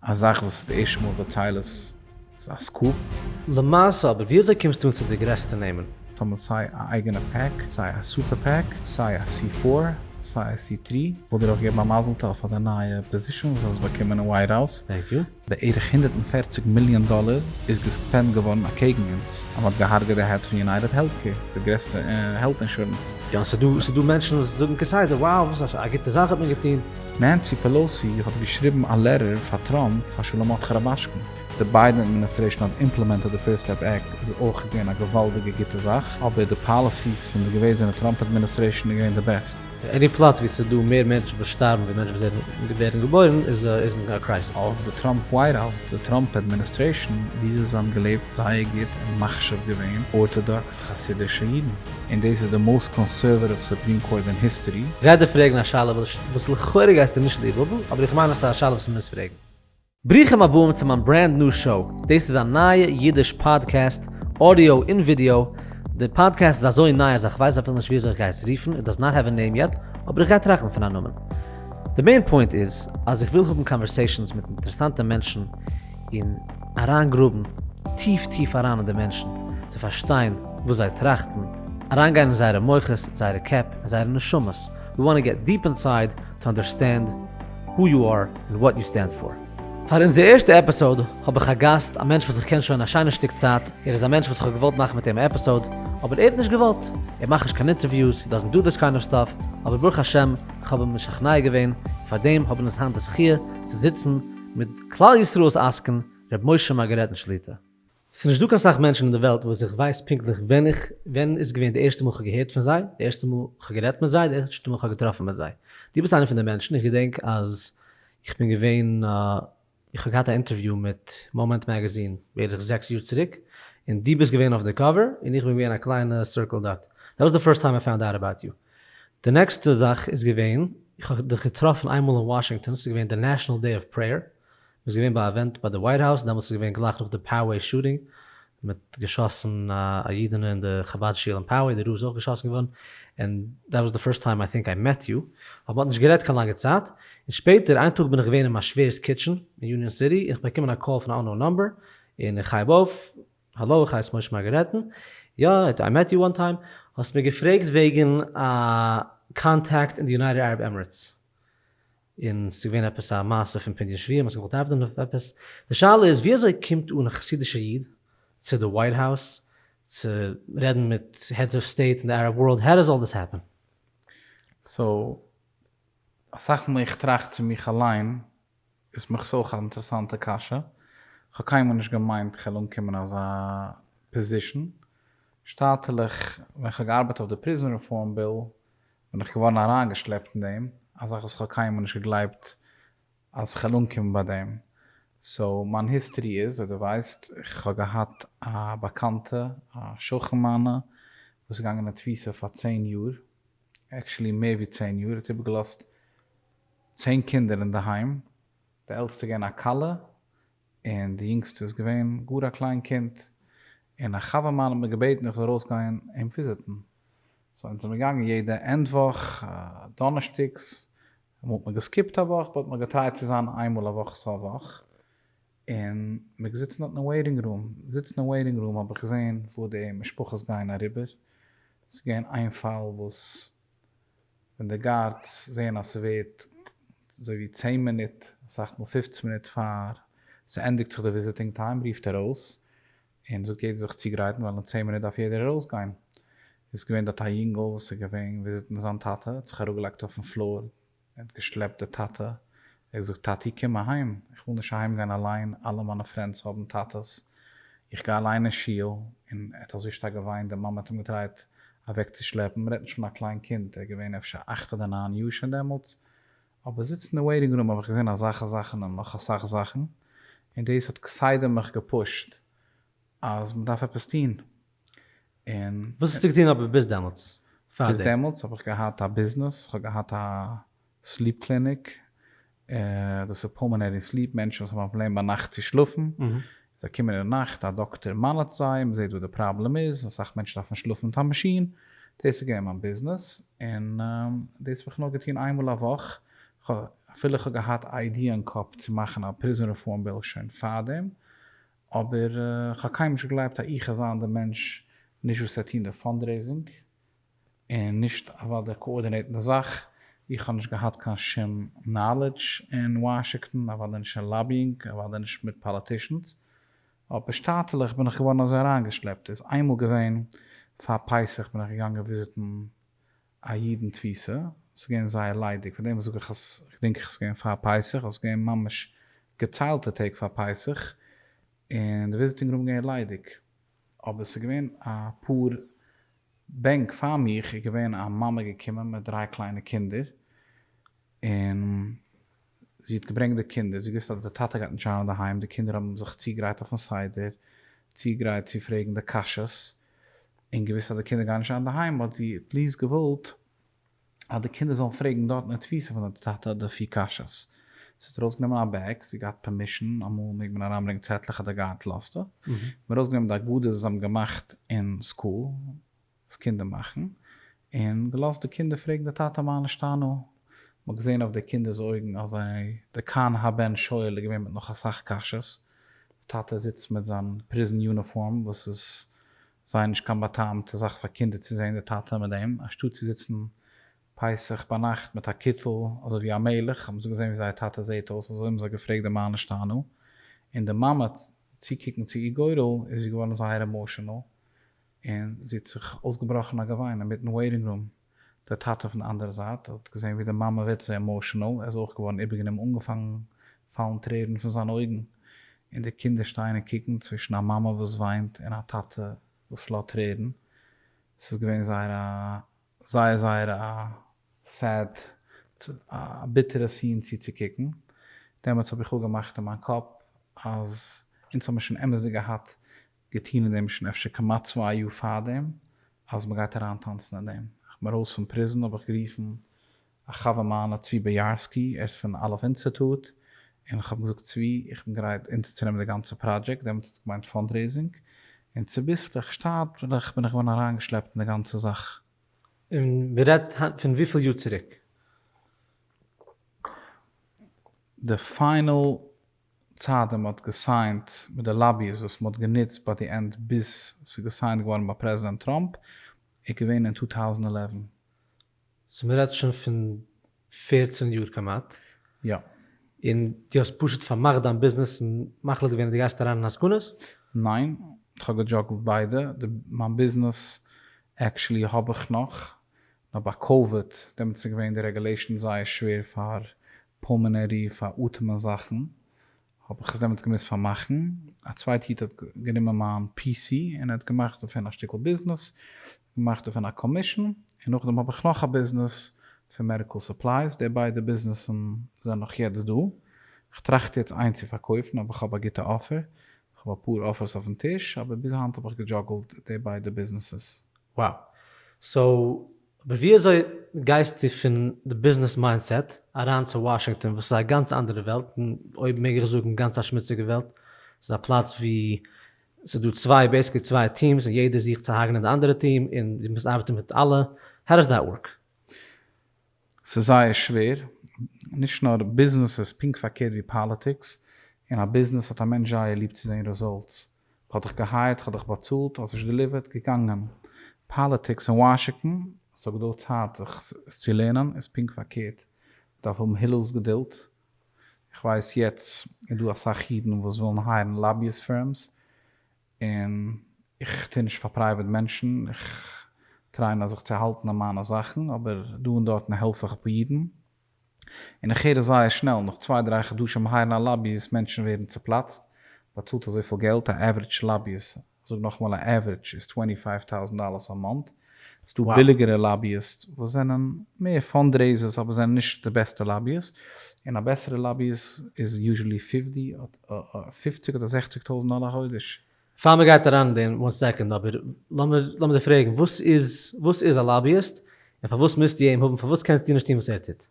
א זאך וואס איז די ערשטע מאל דו טיילעס איז א סקופ. למעשה אבער ווי אזוי קומסטו אן צו די גרעסטע נעמען? טאמער סיי א אייגענע פעק, סיי א סופער פעק, סיי א סי פאר, סיי א סי טרי, וויל דיר אויך געבן א מזל טוב פאר די נייע פאזישאן וואס האסט באקומען אין ווייט האוז, בערך הונדערט און פֿערציק מיליאן דאלער איז געספענד געווארן אקעגן אונז, אז מ'האט געהארגעט די העד פון יונייטעד העלט קעיר, די גרעסטע העלט אינשורענס. יא ס'איז דא מענטשן וואס זאגן כסדר, wow וואס א גוטע זאך האט מען געטון. נענסי פעלאוסי האט געשריבן א לעטער פאר טראמפ פאר שלמות חרבאשקין. די ביידען אדמיניסטרעישאן האט אימפלעמענטעד די פירסט סטעפ עקט איז אויך געווען א געוואלדיגע גוטע זאך אבער די פאליסיס פון די געוועזענע טראמפ אדמיניסטרעישאן איז געווען די בעסט. עני פלאץ ווי ס'איז דא מער מענטשן וואס שטארבן ווי מענטשן וואס ווערן געבוירן איז אין א קרייזיס. אויף די טראמפ ווייט האוז, די טראמפ אדמיניסטרעישאן, וויאזוי זיי האבן געלעבט זייער גוט און מחשיב געווען ארטאדאקס, חסידישע אידן, און דאס איז די מאוסט קאנסערוואטיוו סופרים קאורט אין היסטערי. רעדער פרעגן א שאלה וואס לכאורה גייסטו נישט ליבהאבן, אבער איך מיין אז ס'איז א שאלה וואס מ'מוז פרעגן. ברוכים הבאים צו מיין ברענד ניו שאו, דאס איז א נייע אידיש פאדקעסט, אודיאו און ווידיאו, די פאדקעסט איז אזוי ניי אז איך ווייס אפילו נישט וויאזוי איך גיי עס רופן, איט דאז נאט העוו א נעים יעט, אבער איך גיי טראכטן פון א נאמען. די מעין פוינט איז אז איך וויל האבן קאנווערסעישאנס מיט אינטערעסאנטע מענטשן און אריינגראבן טיף טיף אריין אין די מענטשן צו פארשטיין וואס זיי טראכטן, אריינגיין אין זייערע מוחות, זייערע קעפ, און זייערע נשמות, ווי וואנט טו געט דיעפ אינסייד טו אנדערסטענד הו יו אר און וואט יו סטענד פאר. פאר אונזער ערשטע עפיסאוד האב איך א גאסט, א מענטש וואס איך קען שוין א שיינע שטיק צייט, ער איז א מענטש וואס איך האב געוואלט מאכן מיט אים א עפיסאוד, אבער ער האט נישט געוואלט, ער מאכט נישט קיין אינטערוויוס, הי דאזענט דא דיס קיינד אוו סטאף, אבער ברוך השם איך האב אים משכנע געווען, און פארדעם האבן אונז היינט די זכיה צו זיצן מיט. כלל ישראל'ס עסקן ר' משה מארגארעטן שליטא. ס'איז נישט דא קיין סאך מענטשן אין די וועלט וואס איך ווייס פונקטליך ווען איך ווען איז געווען די ערשטע מאל כ'האב געהערט פון זיי, די ערשטע מאל כ'האב גערעדט מיט זיי, די ערשטע מאל כ'האב געטראפן מיט זיי. דו ביסט איינע פון די מענטשן, איך געדענק אז איך בין געווען איך האב געהאט א אינטערוויו מיט מאמענט מעגעזין בערך זעקס יאר צוריק, און דו ביסט געווען אויף די קאווער, און איך בין געווען א קליינע סירקל דארט. דעט וואס די פירסט טיים איי פאונד אוט אבאוט יו. די נעקסטע זאך איז געווען, איך האב דיך געטראפן איינמאל אין וואשינגטאן, ס'איז געווען די נעשאנעל דעי אוו פרעיער, מ'איז געווען ביי א עווענט ביי די ווייט האוז, דעמאלטס איז געווען גלייך נאך די פאוועי שוטינג, מ'האט געשאסן א אידענע אין די חבד שול אין פאוועי, די רב איז אויך געשאסן געווארן, און דעט וואס די פירסט טיים איי טינק איי מעט יו, אבער מ'האט נישט גערעדט קיין לאנגע צייט, און שפעטער איין טאג בין איך געווען אין מיין שווער'ס קיטשען אין יוניאן סיטי, און איך באקומען א קאל פון א אננאון נאמבער, און איך הייב אויף, האלאו איך הייס משה מארגארעטן, יא איט איי מעט יו וואן טיים, האסט מיר געפרעגט וועגן א קאנטעקט אין די יונייטעד ארעב עמערעטס, און ס'איז געווען עפעס א מעשה פון פדיון שבויים האסט געוואלט דאווענען אויף עפעס, די שאלה איז ווי אזוי קומט אן א חסידישע איד צו די ווייט האוס צו רעדן מיט העדס אוו סטעיט אין די ארעב ווארלד, האו דאס אלל דאס העפען? סאו אסאך מאל איך טראכט צו מיך אליין איז מיך ס'אויך א אינטערעסאנטע קשיא, כ'האב קיינמאל נישט געמיינט כ'על אנקומען אזא פאזישן, שטאטעלעך ווען כ'האב געארבעט אויף די פריזען רעפארם ביל בין איך געווארן אריינגעשלעפט אין דעם, א זאך וואס כ'האב קיינמאל נישט געגלייבט אז כ'על אנקומען ביי דעם, סאו מיין היסטערי איז ווי דו ווייסט, כ'האב געהאט א באקאנטע א שכן מיינע וואס איז געגאנגען אין תפיסה פאר צען יאר, עקשעלי מער ווי צען יאר, ער האט איבערגעלאזט, צען קינדער אינדערהיים, די עלטסטע געווען א כלה, און די יונגסטע איז געווען גאר א קליין קינד, און א חבר מיין האט מיר געבעטן איך זאל ארויסגיין אים וויזיטן, סאו אונז זעמיר געגאנגען יעדע ענד וואך דאנערשטאגס, אמאל האט מען געסקיפט א וואך, באט מען האט געטרייט צו זיין איין מאל א וואך סוף וואך, און מיר געזיצן דארטן אין וועיטינג רום, זיצן אין וועיטינג רום האב איך געזען וואו די משפחות גייען אריבער, ס'איז געווען איין פאל וואס. ווען די גארדס זעהן אז ס'ווערט אזוי ווי צען מינוט, אסאך מאל פֿופֿצן מינוט פאר ס'ענדיגט זיך די וויזיטינג טיים רופט ער אויס און זאגט יעדער זיך צוגרייטן ווייל אין צען מינוט דארף יעדער ארויסגיין. איז געווען דארט א יונגעל וואס איז געווען וויזיטן זיין טאטע, האט זיך אראפגעלייגט אויפן פלאר ער האט געשלעפט די טאטע, ער האט געזאגט טאטי קום אהיים, איך וויל נישט אהיים גיין אליין, אלע מיינע פרענדס האבן טאטעס, איך גיי אליין אין שול, און ער האט אזוי שטארק געוויינט, די מאמע האט אים געטרייט אוועק צו שלעפן, מ'רעדט נישט פון א קליין קינד, ער איז געווען אפשר אכט אדער ניין יאר שוין דעמאלטס, אבער זיצן אין וועיטינג רום האב איך געזען אזאלכע זאכן און נאך אסאך זאכן, און דאס האט כסדר מיך געפושט אז מען דארף עפעס טון און. וואס האסטו געטון אבער ביז דעמאלטס? ביז דעמאלטס האב איך געהאט א ביזנעס, כ'האב געהאט א סליפ קליניק, דאס איז פולמענערי סליפ, מענטשן וואס האבן א פראבלעם ביינאכט צו שלאפן, זיי קומען אין נאכט, א דאקטער מאניטט זיי, מען זעט וואס די פראבלעם איז, אסאך מענטשן דארפן שלאפן מיט א מאשין, דאס איז געווען מיין ביזנעס, און דאס האב איך נאר געטון איינמאל א וואך, אפילו איך האב געהאט איידיע אין קאפ צו מאכן א פריזאן רעפארם ביל שוין פארדעם, אבער כ'האב קיינמאל נישט געגלייבט אז איך אזיין די מענטש, נישט וואס ער טוהן די פאנדרעיזינג, און נישט אוואו דער קאארדינעיטן די זאך, איך האב נישט געהאט קיין שום נאלעדזש אין וואשינגטאן, אוודאי נישט אין לאביאינג, אוודאי נישט מיט פאליטישאנס, אבער שטאטעלעך בין איך געווארן אזוי אריינגעשלעפט, איז איינמאל געווען פאר פסח בין איך געגאנגען וויזיטן א אידן תפיסה, ס'איז געווען זייער ליידיג, פאר דעם זאג איך אז כ'דענק איך ס'איז געווען פאר פסח, אבער ס'איז געווען ממש געציילטע טעג פאר פסח, און די וויזיטינג רום איז געווען ליידיג, אבער ס'איז געווען א פאר בענק פאר מיך, איז געווען א מאמע געקומען מיט דריי קליינע קינדער, און. זי האט געברענגט די קינדער, זי געוואוסט אז די טאטע גייט נישט זיין אינדערהיים, די קינדער האבן זיך צוגרייט אויפן סדר, צוגרייט צו פרעגן די קשיות, און געוואוסט אז די קינדער גייען נישט זיין אינדערהיים האט זי עט ליעסט געוואלט אז די קינדער זאלן פרעגן דארט אין די תפיסה פון די טאטע די פיר קשיות. זי האט ארויסגענומען א בעג, זי האט געהאט פערמישן, אמאל מעג מען אריינברענגן צעטלעך אדער גאנץ לאסטע, מ'האט ארויסגענומען די אגדות וואס זיי האבן געמאכט אין סקול, וואס קינדער מאכן, און געלאזט די קינדער פרעגן די טאטע מה נשתנה, מ'האט געזען אויף די קינדער'ס אויגן אז זיי, די כאן הבן שואל איז געווען מיט נאך אסאך קשיות, די טאטע זיצט מיט זיין פריזן יוניפארם וואס איז זייער נישט קיין בא'טעמ'טע זאך פאר קינדער צו זען די טאטע מיט דעם, אנשטאט צו זיצן פסח ביינאכט מיט א קיטל אזוי ווי א מלך, האבן זיי געזען ווי זייער טאטע זעט אויס, אזוי האבן זיי געפרעגט די מה נשתנה, און די מאמע צוקוקן צו איר גורל איז זי געווארן זייער עמאשענעל. און זי האט זיך אויסגעבראכן א געוויין אינמיטן וועיטינג רום, דער טאטע פון די אנדערע זייט האט געזען ווי די מאמע ווערט זייער עמאושענעל, ער איז אויך געווארן איבערגענומען, אנגעפאנגן פאלן טרערן פון זיינע אויגן, און די קינדער שטייען און קוקן, צווישן א מאמע וואס וויינט און א טאטע וואס לאזט טרערן, עס איז געווען זייער א זייער זייער א סעד, א ביטערע סין צוצוקוקן, דעמאלטס האב איך אפגעמאכט אין מיין קאפ אז אונז האבן שוין אמת'דיג געהאט געטון אין דעם ש ס אפשר כמעט צוויי יאר פארדעם אז מען גייט אריין טאנצן אין דעם. איך בין ארויס פון פריזן האב איך גערופן א חבר מיינע צבי באיארסקי ער איז פון אלף אינסעטוט און איך האב אים געזאגט צבי איך בין גרייט אונטערצונעמען די גאנצע פראדזשעקט דעמאלטס האט עס געמיינט פאנדרעיזינג און צוביסלעך שטאטבלעך בין איך געווארן אריינגעשלעפט אין די גאנצע זאך. און מען רעדט היינט פון וויפיל יאר צוריק? די פיינעל צייט ווען מען האט געסיינט מיט די לאביס וואס מען האט גענוצט ביי די ענד ביז ס'איז געסיינט געווארן ביי פרעזידענט טראמפ איז געווען אין טו טאוזענד עלעווען. סאו מען רעדט שוין פון פערצן יאר כמעט. יא. און דו האסט פשוט פארמאכט דיין ביזנעס און מחליט געווען אז דו גייסט אריין אין עסקנות? ניין, כ'האב געדזשאגלט ביידע, די מיין ביזנעס עקשעלי האב איך נאך, נאר ביי קאוויד דעמאלטס איז געווען די רעגולעישאן זייער שווער פאר פולמינערי פאר אטעמען זאכן האב איך עס דעמאלטס געמוזט פארמאכן, א צווייטע איד האט גענומען מיין פי סי און ער האט געמאכט דערפון א שטיקל ביזנעס, געמאכט דערפון א קאמישן, און נאכדעם האב איך נאך א ביזנעס פון מעדיקל סופלייס, די ביידע ביזנעסן זענען נאך יעצט דא, איך טראכט יעצט איינס צו פארקויפן אבער איך האב א גוטע אפער, איך האב אפאר אפערס אויפן טיש אבער ביז היינט האב איך געדזשאגלט די ביידע ביזנעסעס. Wow. So, אבער ווי אזוי גייסטו פון די ביזנעס מיינדסעט אריין צו וואשינגטאן וואס איז א גאנץ אנדערע וועלט, און אויב מעג איך זאגן גאנץ א שמוציגע וועלט, ס'איז א פלאץ ווי ס'איז דא צוויי, בעיסיקלי צוויי טיעמס און יעדער זוכט צו הרג'נען די אנדערע טיעם און דו מוזט ארבעטן מיט אלע, How does that work? ס'איז זייער שווער, נישט נאר ביזנעס איז פונקט פארקערט ווי פאליטיקס, אין א ביזנעס האט א מענטש זייער ליב צו זען רעזאלטס, כ'האב דיך געהייערט, כ'האב דיך באצאלט, האסט נישט דעליווערט, געגאנגען. פאליטיקס אין וואשינגטאן, זאג דא צייט זיך עס צו לערנען, איז פונקט פארקערט, מ'דארף האבן הילל'ס געדולד. איך ווייס יעצט איז דא אסאך אידן וואס ווילן הייערן לאביאיסט פירמס, און איך טוה נישט פאר פרייוועט מענטשן, איך טריי נאר זיך צו האלטן אין מיינע זאכן, אבער דא און דארטן העלף איך אפאר אידן. און איך הער עס זייער שנעל, נאך צוויי דריי חדשים הייערן א לאביאיסט, מענטשן ווערן צופלאצט, באצאלט אזויפיל געלט, א עווערידזש לאביאיסט, איך זאג נאכאמאל א עווערידזש, איז טווענטי פייוו טאוזענט דאללערס א מאנט, ס'דא ביליגערע לאביאיסט וואס זענען מער פאנדרעיזערס אבער זענען נישט די בעסטע לאביאיסט, און א בעסערע לאביאיסט איז יוזשעלי פיפטי אדער זעכציג טויזענט דאללער א חודש. פאר מען גייט אריין אין דעם, וואן סעקאנד, אבער לאמיר דיר פרעגן, וואס איז א לאביאיסט? און פארוואס מוזטו אים האבן? פארוואס קענסטו נישט טון וואס ער טוט?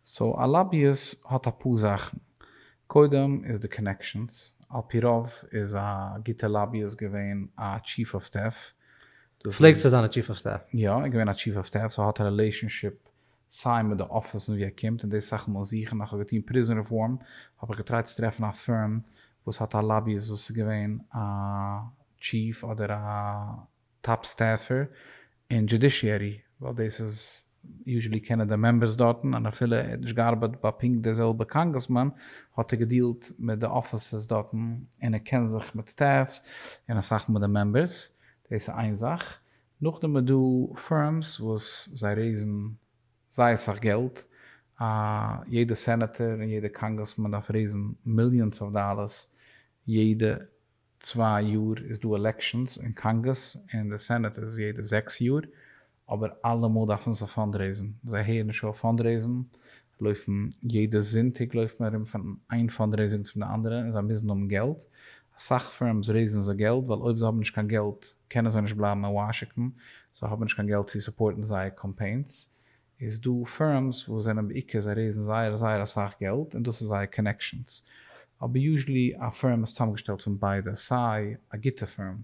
סאו א לאביאיסט האט אפאר זאכן, קודם איז די קאנעקשאנס, על פי רוב איז א גוטע לאביאיסט געווען א טשיף אוו סטעף, פלעגט צו זיין א טשיף אוו סטעף. יא, ער איז געווען א טשיף אוו סטעף, סאו ער האט רילעישאנשיפ סיי מיט די אפיסן ווי ער קומט און די סאך מאל זוכן איך האב געטון פריזאן רעפארם האב איך געטרייט צו טרעפן א פירם וואס האט א לאביאיסט וואס איז געווען א טשיף אדער א טאפ סטעפער אין דזשודישיערי ווייל דאס איז יוזשעלי קענען די מעמבערס דארטן און אפילו ער האט נישט געארבייט ביי פונקט די זעלבע קאנגרעסמאן האט ער געדילט מיט די אפיסעס דארטן און ער קען זיך מיט סטעפס און אסאך מיט די מעמבערס דאס איז איין זאך נאכדעם איז דא פירמס וואס זיי רעיזן זייער סאך געלט, א יעדע סענעטער און יעדע קאנגרעסמאן דארף רעיזן מיליאנס אוו דאלערס, יעדע צוויי יאר איז דא עלעקשאנס און קאנגרעס און די סענעט איז יעדע זעקס יאר, אבער אלעמאל דארפן זיי פאנדרעיזן, זיי הערן נישט אויף פאנדרעיזן, לויפן יעדע זונטאג לויפט מען ארום פון איין פאנדרעיזונג צום די אנדערע און זיי מוזן האבן געלט, אסאך פירמס רעיזן זיי געלט ווייל אויב זיי האבן נישט קיין געלט קענען זיי נישט בלייבן אין וואשינגטאן, זיי האבן נישט קיין געלט צו סופארטן זייער קאמפיינס, איז דא פירמס וואס זענען בעיקר זיי רעיזן זייער זייער אסאך געלט און דאס איז זייער קאנעקשאנס, אבער יוזשעלי א פירם איז צוזאמגעשטעלט פון ביידע, סיי א גוטע פירם,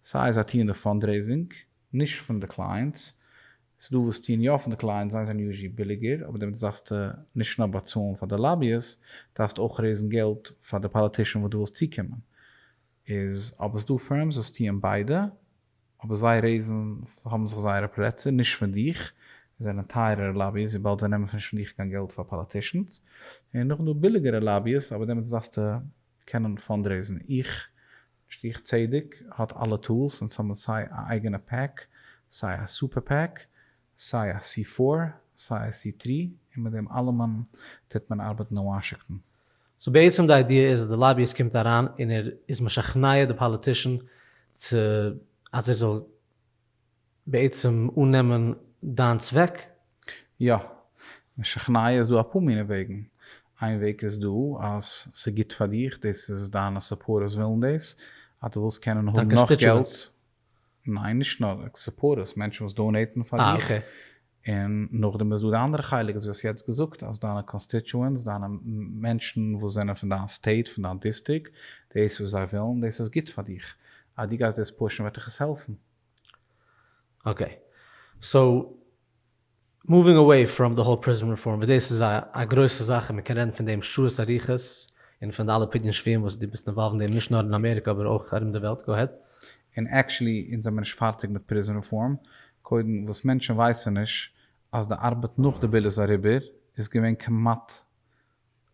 סיי זיי טוען די פאנדרעיזינג נישט פון די קלייענטס, ס'איז דא וואס טוען יא פון די קלייענטס, זיי זענען יוזשעלי ביליגער, אבער דערמיט דארפסטו נישט נאר באצאלן פאר די לאביעס, דארפסט אויך רעיזן געלט פאר די פאליטישאן וואס דו ווילסט צוקומען. איז אבער ס'דא פירמס וואס טוען ביידע, אבער זיי רעיזן האבן זיך זייערע פלעצער נישט פון דיך, און זענען טייערערע לאביס וויבאלד זיי נעמען נישט פון דיך קיין געלט פאר פאליטישאנס, און נאכדעם דא ביליגערע לאביס אבער דעמאלטס דארפסטו קענען פאנדרעיזן, איך, נישט איך צדק, האט אלע טולס און סאמהאו סיי א אייגענע פעק סיי א סופער פעק, סיי א סי פֿאָר סיי א סי טרי און מיט דעם אלעמען טוט מען ארבעטן אין וואשינגטאן. סאו בעצם די איידיע איז אז די לאביאיסט קומט אריין און ער איז משכנע די פאליטישן צו אז ער זאל בעצם אננעמען דיין צוועק? יא. משכנע איז דא אפאר מיני וועגן. איין וועג איז דא אז ס'איז גוט פאר דיך, דאס איז דיינע סופארטערס ווילן דאס, אז דו ווילסט קענען האבן נאך געלט. ניין נישט נאר סופארטערס, מענטשן וואס דאנעיטן פאר דיך, און נאכדעם איז דא די אנדערע חלק וואס דו האסט יעצט געזאגט אז דיינע קאנסטיטשוענטס, דיינע מענטשן וואס זענען פון דיין סטעיט, פון דיין דיסטריקט, דאס וואס זיי ווילן, דאס איז גוט פאר דיך, אז דו גייסט דאס פושן וועט דיך עס העלפן. אקעי, סאו. מאווינג אוועי פראם די האול פריזאן רעפארם וואס דאס איז א גרויסע זאך און מען קען רעדן פון דעם שעות אריכות און פון די אלע פדיון שבויים וואס דו ביסט אינוואלווד אין דעם נישט נאר אין אמעריקע אבער אויך ארום די וועלט גאו העד. און עקשעלי אונז זעמיר נישט פארטיג מיט פריזאן רעפארם, קודם וואס מענטשן ווייסן נישט אז די ארבעט נאך די ביל איז אריבער איז געווען כמעט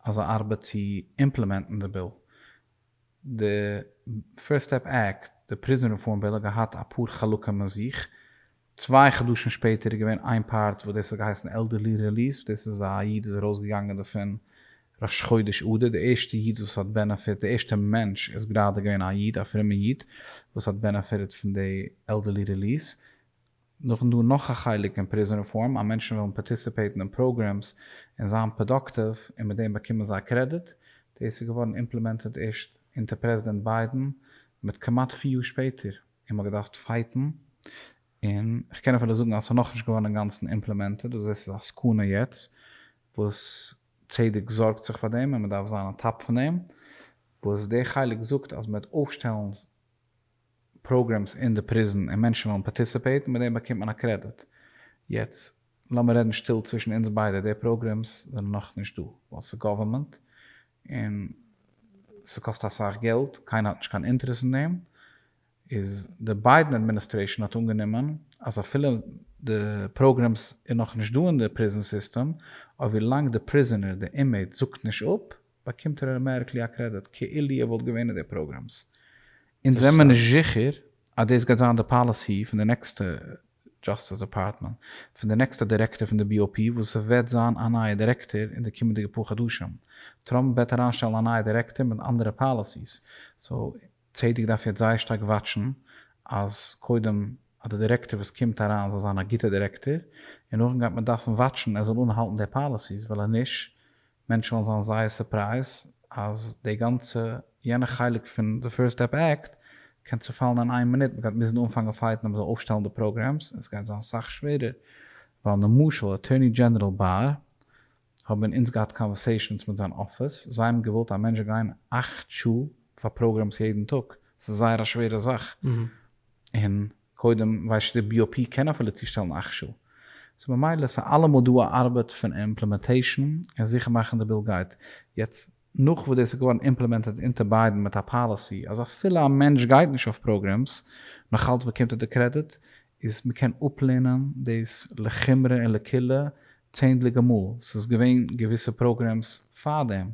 אזא ארבעט צו אימפלעמענטן די ביל די פירסט סטעפ עקט, די פריזאן רעפארם ביל האט געהאט אפאר חלקים אין זיך, צוויי חדשים שפעטער איז געווען איין פארט וואס דאס האט געהייסן עלדערלי רעליס וואס דאס איז א איד איז ארויס געגאנגען דערפון ראש חודש אדר, די ערשטע איד וואס האט בענעפיט, די ערשטע מענטש איז גראדע געווען א איד, א פרומע איד, וואס האט בענעפיטעד פון די עלדערלי רעליס, נאכדעם דא נאך א חלק אין פריזאן רעפארם אז מענטשן וועלן פארטיסיפעיטן אין פראגרעמס און זיין פראדאקטיוו און מיט דעם באקומען זיי קרעדיט. דאס איז געווארן אימפלעמענטעד ערשט אונטער פרעזידענט ביידען מיט כמעט פיר יאר שפעטער און מ'האט געדארפט פייטן און כ'קען אפילו זאגן אז ס'איז נאכנישט געווארן אינגאנצן אימפלעמענטעד און דאס איז א סכנה יעצט וואס צדק זארגט זיך פאר דעם און מ'דארף זיין אן טאפ פון דעם וואס דער חלק זאגט אז מ'וועט אויפשטעלן פראגרעמס אין די פריזן און מענטשן וועלן פארטיסיפעיטן מיט דעם באקומט מען א קרעדיט. יעצט לאמיר רעדן שטיל צווישן אונז ביידע, די פראגרעמס זענען נאך נישט דא ווייל ס'איז גאווערמענט און ס'קאסט אסאך געלט, קיינער האט נישט קיין אינטערעס אין דעם, איז די ביידן אדמיניסטרעישן האט אנגענומען אז אפילו די פראגרעמס איז נאך נישט דא אין די פריזן סיסטעם אויב ווי לאנג די פריזענער, די אינמעיט, זאגט נישט אפ, באקומט ר' מערקלי א קרעדיט כאילו ער וואלט געווען אין די פראגראמס. אונז זעמער נישט זיכער אז דאס גייט זיין די פאליסי פון די נעקסטע דזשאסטיס דעפארטמענט, פון די נעקסטע דירעקטאר פון די BOP וואס עס וועט זיין א נייע דירעקטאר אין די קומענדיגע פאר חדשים. טראמפ וועט אריינשטעלן א נייע דירעקטאר מיט אנדערע פאליסיס. סאו צדק דארף יעצט זייער שטארק וואטשן אז קודם אז די דירעקטאר וואס קומט אריין זאל זיין א גוטע דירעקטאר, און נאכדעם גייט מען דארפן וואטשן ער זאל אנהאלטן די פאליסיס, ווייל אז נישט מענטשן וועלן זיין זייער סורפרייז אז די גאנצע יענע חלק פון די פירסט סטעפ עקט קען צופאלן אין איין מינוט, מ'גייט מוזן אנפאנגען פייטן אז מ'זאל אויפשטעלן די פראגרעמס און ס'גייט זיין סאך שווערער ווייל נמשל אטורני דזשענעראל באר האבן אונז געהאט קאנווערסעישאנס מיט זיין אפיס זיי האבן געוואלט א מענטש גיין אַכט שעה פאר פראגרעמס יעדן טאג ס'איז זייער א שווערע זאך און קודם ווייסט די בּי או פּי קען אפילו צושטעלן אכשו סא ממילא איז אלעמאל דא א ארבעט פון אימפּלימענטעישאן און זיכער מאכן די בּיל גייט יעצט נאך וואס דאס איז געווארן אימפּלימענטעד אונטער בּיידען מיט א פּאליסי אז אפילו א מענטש גייט נישט אויף פּראגרעמס נאך אלץ באקומט ער די קרעדיט איז מ'קען אפּלערנען דאס לחומרא און לקולא צענדליגע מאל, ס'איז געווען געוויסע פראגרעמס פאר דעם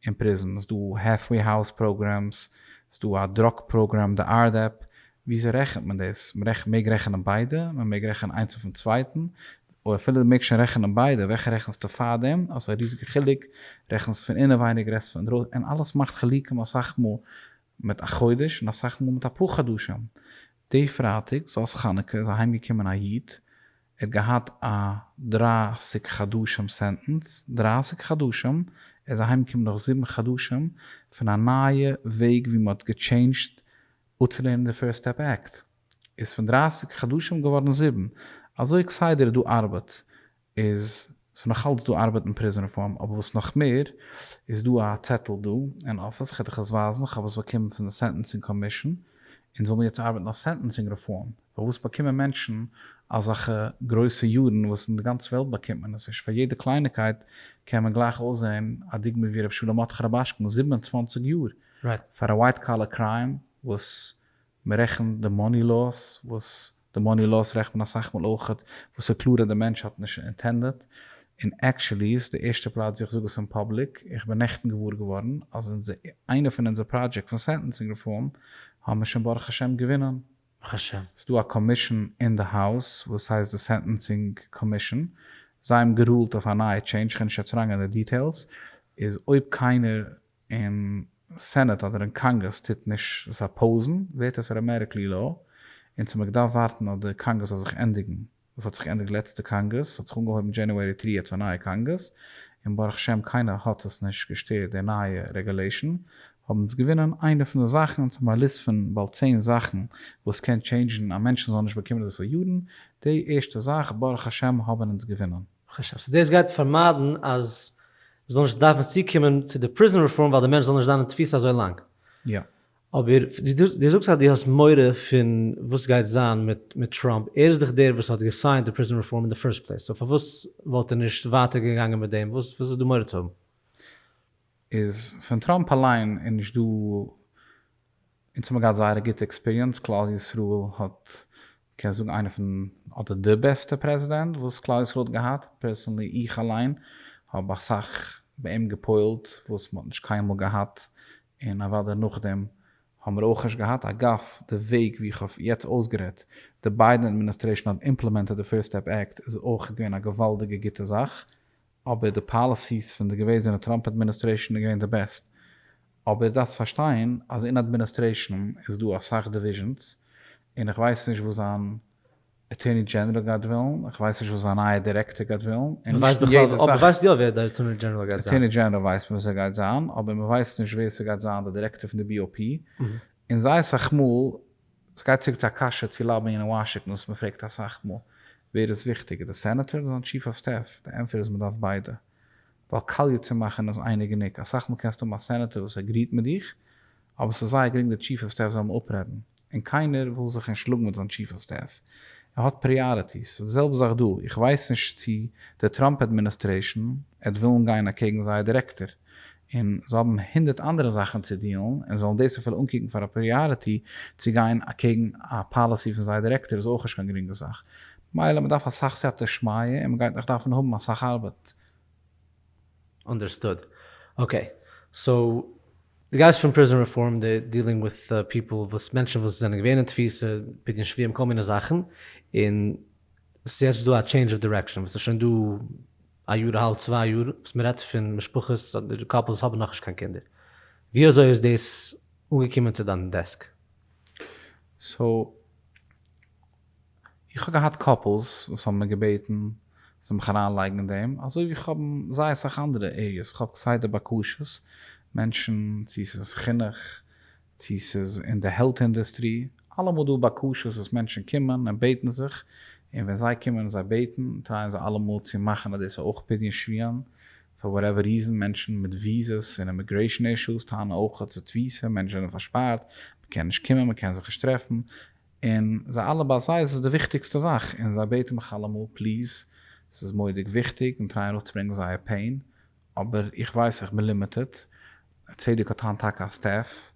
אין פריזן, ס'איז דא העלפוועי האוז פראגרעמס, ס'איז דא א דראג פראגרעם די ארדעפ, וויאזוי רעכנט מען דאס? מ'רעכנט מעג רעכענען ביידע? מ'מעג רעכענען איינס אויפן צווייטן? אוי אפילו די מעגסט שוין רעכענען ביידע וועלכע רעכנסטו פאר דעם? האסט א ריזיגע חילוק, רעכנסט פון אינעווייניג רעדסט פון אינדרויסן און אלעס מאכט חילוקים אסאך מאל מיט א חודש און אסאך מאל מיט אפאר חדשים, די פרייטאג זאת חנוכה איז אהיימגעקומען א איד ער האט געהאט א דרײַסיק חדשים סענטענס, דרײַסיק חדשים, ער איז אהיים געקומען נאך זיבן חדשים פון א נייע וועג ווי מ'האט געטשעינדזשט אפצולערנען די פירסט סטעפ עקט, איז פון דרײַסיק חדשים געווארן זיבן, אזוי כסדר דא ארבעט, איז ס'איז נאכאלץ דא ארבעט אין פריזאן רעפארם, אבער וואס נאך מער, איז דא א צעטל דא אין אפיס, כ'וועל דיך עס ווייזן, כ'האב עס באקומען פון די סענטענסינג קאמישאן, אונז זאל מיר יעצט ארבעטן אויף סענטענסינג רעפארם, פארוואס באקומען מענטשן אזעלכע גרויסע יארן וואס אין די גאנצע וועלט באקומט מען עס נישט, פאר יעדע קלייניקייט קען מען גלייך אויסזען, א דוגמא ווי רבי שלום מרדכי רובאשקין זיבן און צוואַנציק יאר פאר א ווייט קאלער קריים וואס מ'רעכנט די מאני לאוס וואס די מאני לאוס רעכט מען אסאך מאל אויך וואס איז קלאר אז די מענטש האט נישט אינטענדעט, און עקשעלי איז די ערשטע פלאץ ווי איך זאג עס אין פאבליק, איך בין נעכטן געוואר געווארן אז אונזער איינע פון אונזער פראדזשעקט פון סענטענסינג רעפארם האבן מיר שוין ברוך השם געווינען. ברוך השם. ס'איז דא א קאמישען אין די האוז וואס הייסט די סענטענסינג קאמישען, זיי האבן גערולט אויף א נייע טשעינדזש, כ'קען נישט יעצט אריינגיין אין די דיטעילס, איז אויב קיינער אין סענעט אדער אין קאנגרעס טוט נישט עס אפאוזן ווערט עס ארעמעטיקלי לאו און צו מ'גדארף ווארטן אויף די קאנגרעס זאל זיך ענדיגן וואס האט זיך געענדיגט לעצטע קאנגרעס האט זיך אנגעהויבן דזשענוערי תרי א צו א נייע קאנגרעס און ברוך שם קיינער האט עס נישט געשטערט די נייע רעגולעישן האבן אונז געווינען איינע פון די זאכן אונז האבן א ליסט פון באלד צען זאכן וואס קען טשעינדזשן א מענטשן זאל נישט באקומען אזויפיל יארן די ערשטע זאך ברוך השם האבן אונז געווינען. כ'שאץ אז דאס גייט פארמיידן אז מ'זאל נישט דארפן צוקומען צו די פריזאן רעפארם ווייל די מענטש זאל נישט זיין אין תפיסה אזוי לאנג. יא. אבער דו זאגסט אז דו האסט מורא פון וואס גייט זיין מיט טראמפ, ער איז דאך דער וואס האט געסיינט די פריזאן רעפארם אין די פירסט פלעיס, סאו פארוואס וואלט ער נישט ווייטער געגאנגען מיט דעם, וואס איז דא מורא צו האבן? איז פון טראמפ אליין איז נישט דא אונז האבן געהאט זייער א גוטע עקספיריענס, כלל ישראל האט מ'קען זאגן איינער פון אדער די בעסטע פרעזידענט וואס כלל ישראל האט געהאט, פערסאנלי איך אליין האב אסאך ביי אים געפועל'ט וואס מ'האט נישט קיינמאל געהאט און אוודאי נאכדעם האבן מיר אויך נישט געהאט, אגב די וועג ווי איך האב יעצט אויסגערעדט די ביידען אדמיניסטרעישאן האט אימפלעמענטעד די פירסט סטעפ עקט איז אויך געווען א געוואלדיגע גוטע זאך אבער די פאליסיס פון די געוועזענע טראמפ אדמיניסטרעישאן איז געווען די בעסט, אבער דארפסט פארשטיין אז אין אדמיניסטרעישאן איז דא אסאך דיוויזשענס, און איך ווייס נישט וואס זיין אטורני דזשענעראל גייט ווילן, איך ווייס נישט וואס זיין נייע דירעקטאר גייט ווילן, און נישט אין יעדע זאך. מען ווייסט יא ווער די אטורני דזשענעראל גייט זיין? אטורני דזשענעראל ווייסט מען ווער סגייט זיין, אבער מען ווייסט נישט ווער סגייט זיין די דירעקטאר פון די BOP, און זייער סאך מאל ס'גייט צוריק צו א קשיא צו לאביען אין וואשינגטאן וואס מ'פרעגט אסאך מאל, ווער איז וויכטיגער די סענעטאר אדער זיין טשיף אוו סטעף? די ענטפער איז מ'דארף ביידע, ווייל קאליע צו מאכן איז אייניג גענוג, אסאך מאל קענסטו האבן א סענעטאר וואס עגריעט מיט דיך, אבער ס'איז זייער גרינג די טשיף אוו סטעף זאל אים אפרעדן, און קיינער וויל זיך נישט שלאגן מיט זיין טשיף אוו סטעף, ער האט פריאריטיס, ס'איז די זעלבע זאך דא, איך ווייס נישט צו די טראמפ אדמיניסטרעישן עט ווילן גיין אקעגן זייער דירעקטאר, און זיי האבן הונדערט אנדערע זאכן צו דיעלן און זאלן דאס אפילו אנקוקן פאר א פריאריטי צו גיין אקעגן א פאליסי פון זייער דירעקטאר איז אויך נישט קיין גרינגע זאך מילא מ'דארף אסאך סייעתא שמיה און מ'גייט נאך דארפן האבן אסאך ארבעט. אנדערסטוד. אקעי. סאו דו גייסט פון פריזאן רעפארם די דיעלינג וויט פיפל וואס מענטשן וואס זענען געווען אין תפיסה בגין שביעם כל מיני זאכן און ס'יעצט דא א טשעינדזש אוו דירעקשאן וואס איז שוין דא א יאר אהאלב צוויי יאר וואס מען רעדט פון משפחות אדער קאפלס האבן נאכנישט קיין קינדער, ווי אזוי איז דאס אנגעקומען צו דיין דעסק? סאו איך האב געהאט קאפלס וואס האבן מיר געבעטן זאל מיך אריין לייגן אין דעם אזוי ווי איך האב אין זייער אסאך אנדערע עריעס, איך האב כסדר בקשות, מענטשן צו עס איז חינוך, צו ס'איז אין די העלט אינדוסטרי, אלעמאל דא בקשות וואס מענטשן קומען און בעטן זיך, און ווען זיי קומען און זיי בעטן, טרייען זיי אלעמאל צו מאכן אז דאס איז אויך פדיון שביון, פאר וואטעווער ריזען, מענטשן מיט וויזעס און אימיגרעישן אישוס טענה'ן אויך אז ס'איז תפיסה, מענטשן זענען פארשפארט, מ'קען נישט קומען, מ'קען זיך נישט טרעפן, און זיי אלע ביי זיי איז עס די וויכטיגסטע זאך, און זיי בעטן מיך אלעמאל, פליז, ס'איז מורא'דיג וויכטיג, און טרייען אראפצוברענגן זייער פעין, אבער איך ווייס איך בין לימיטעד, צדק האט היינט טאקע א סטעף,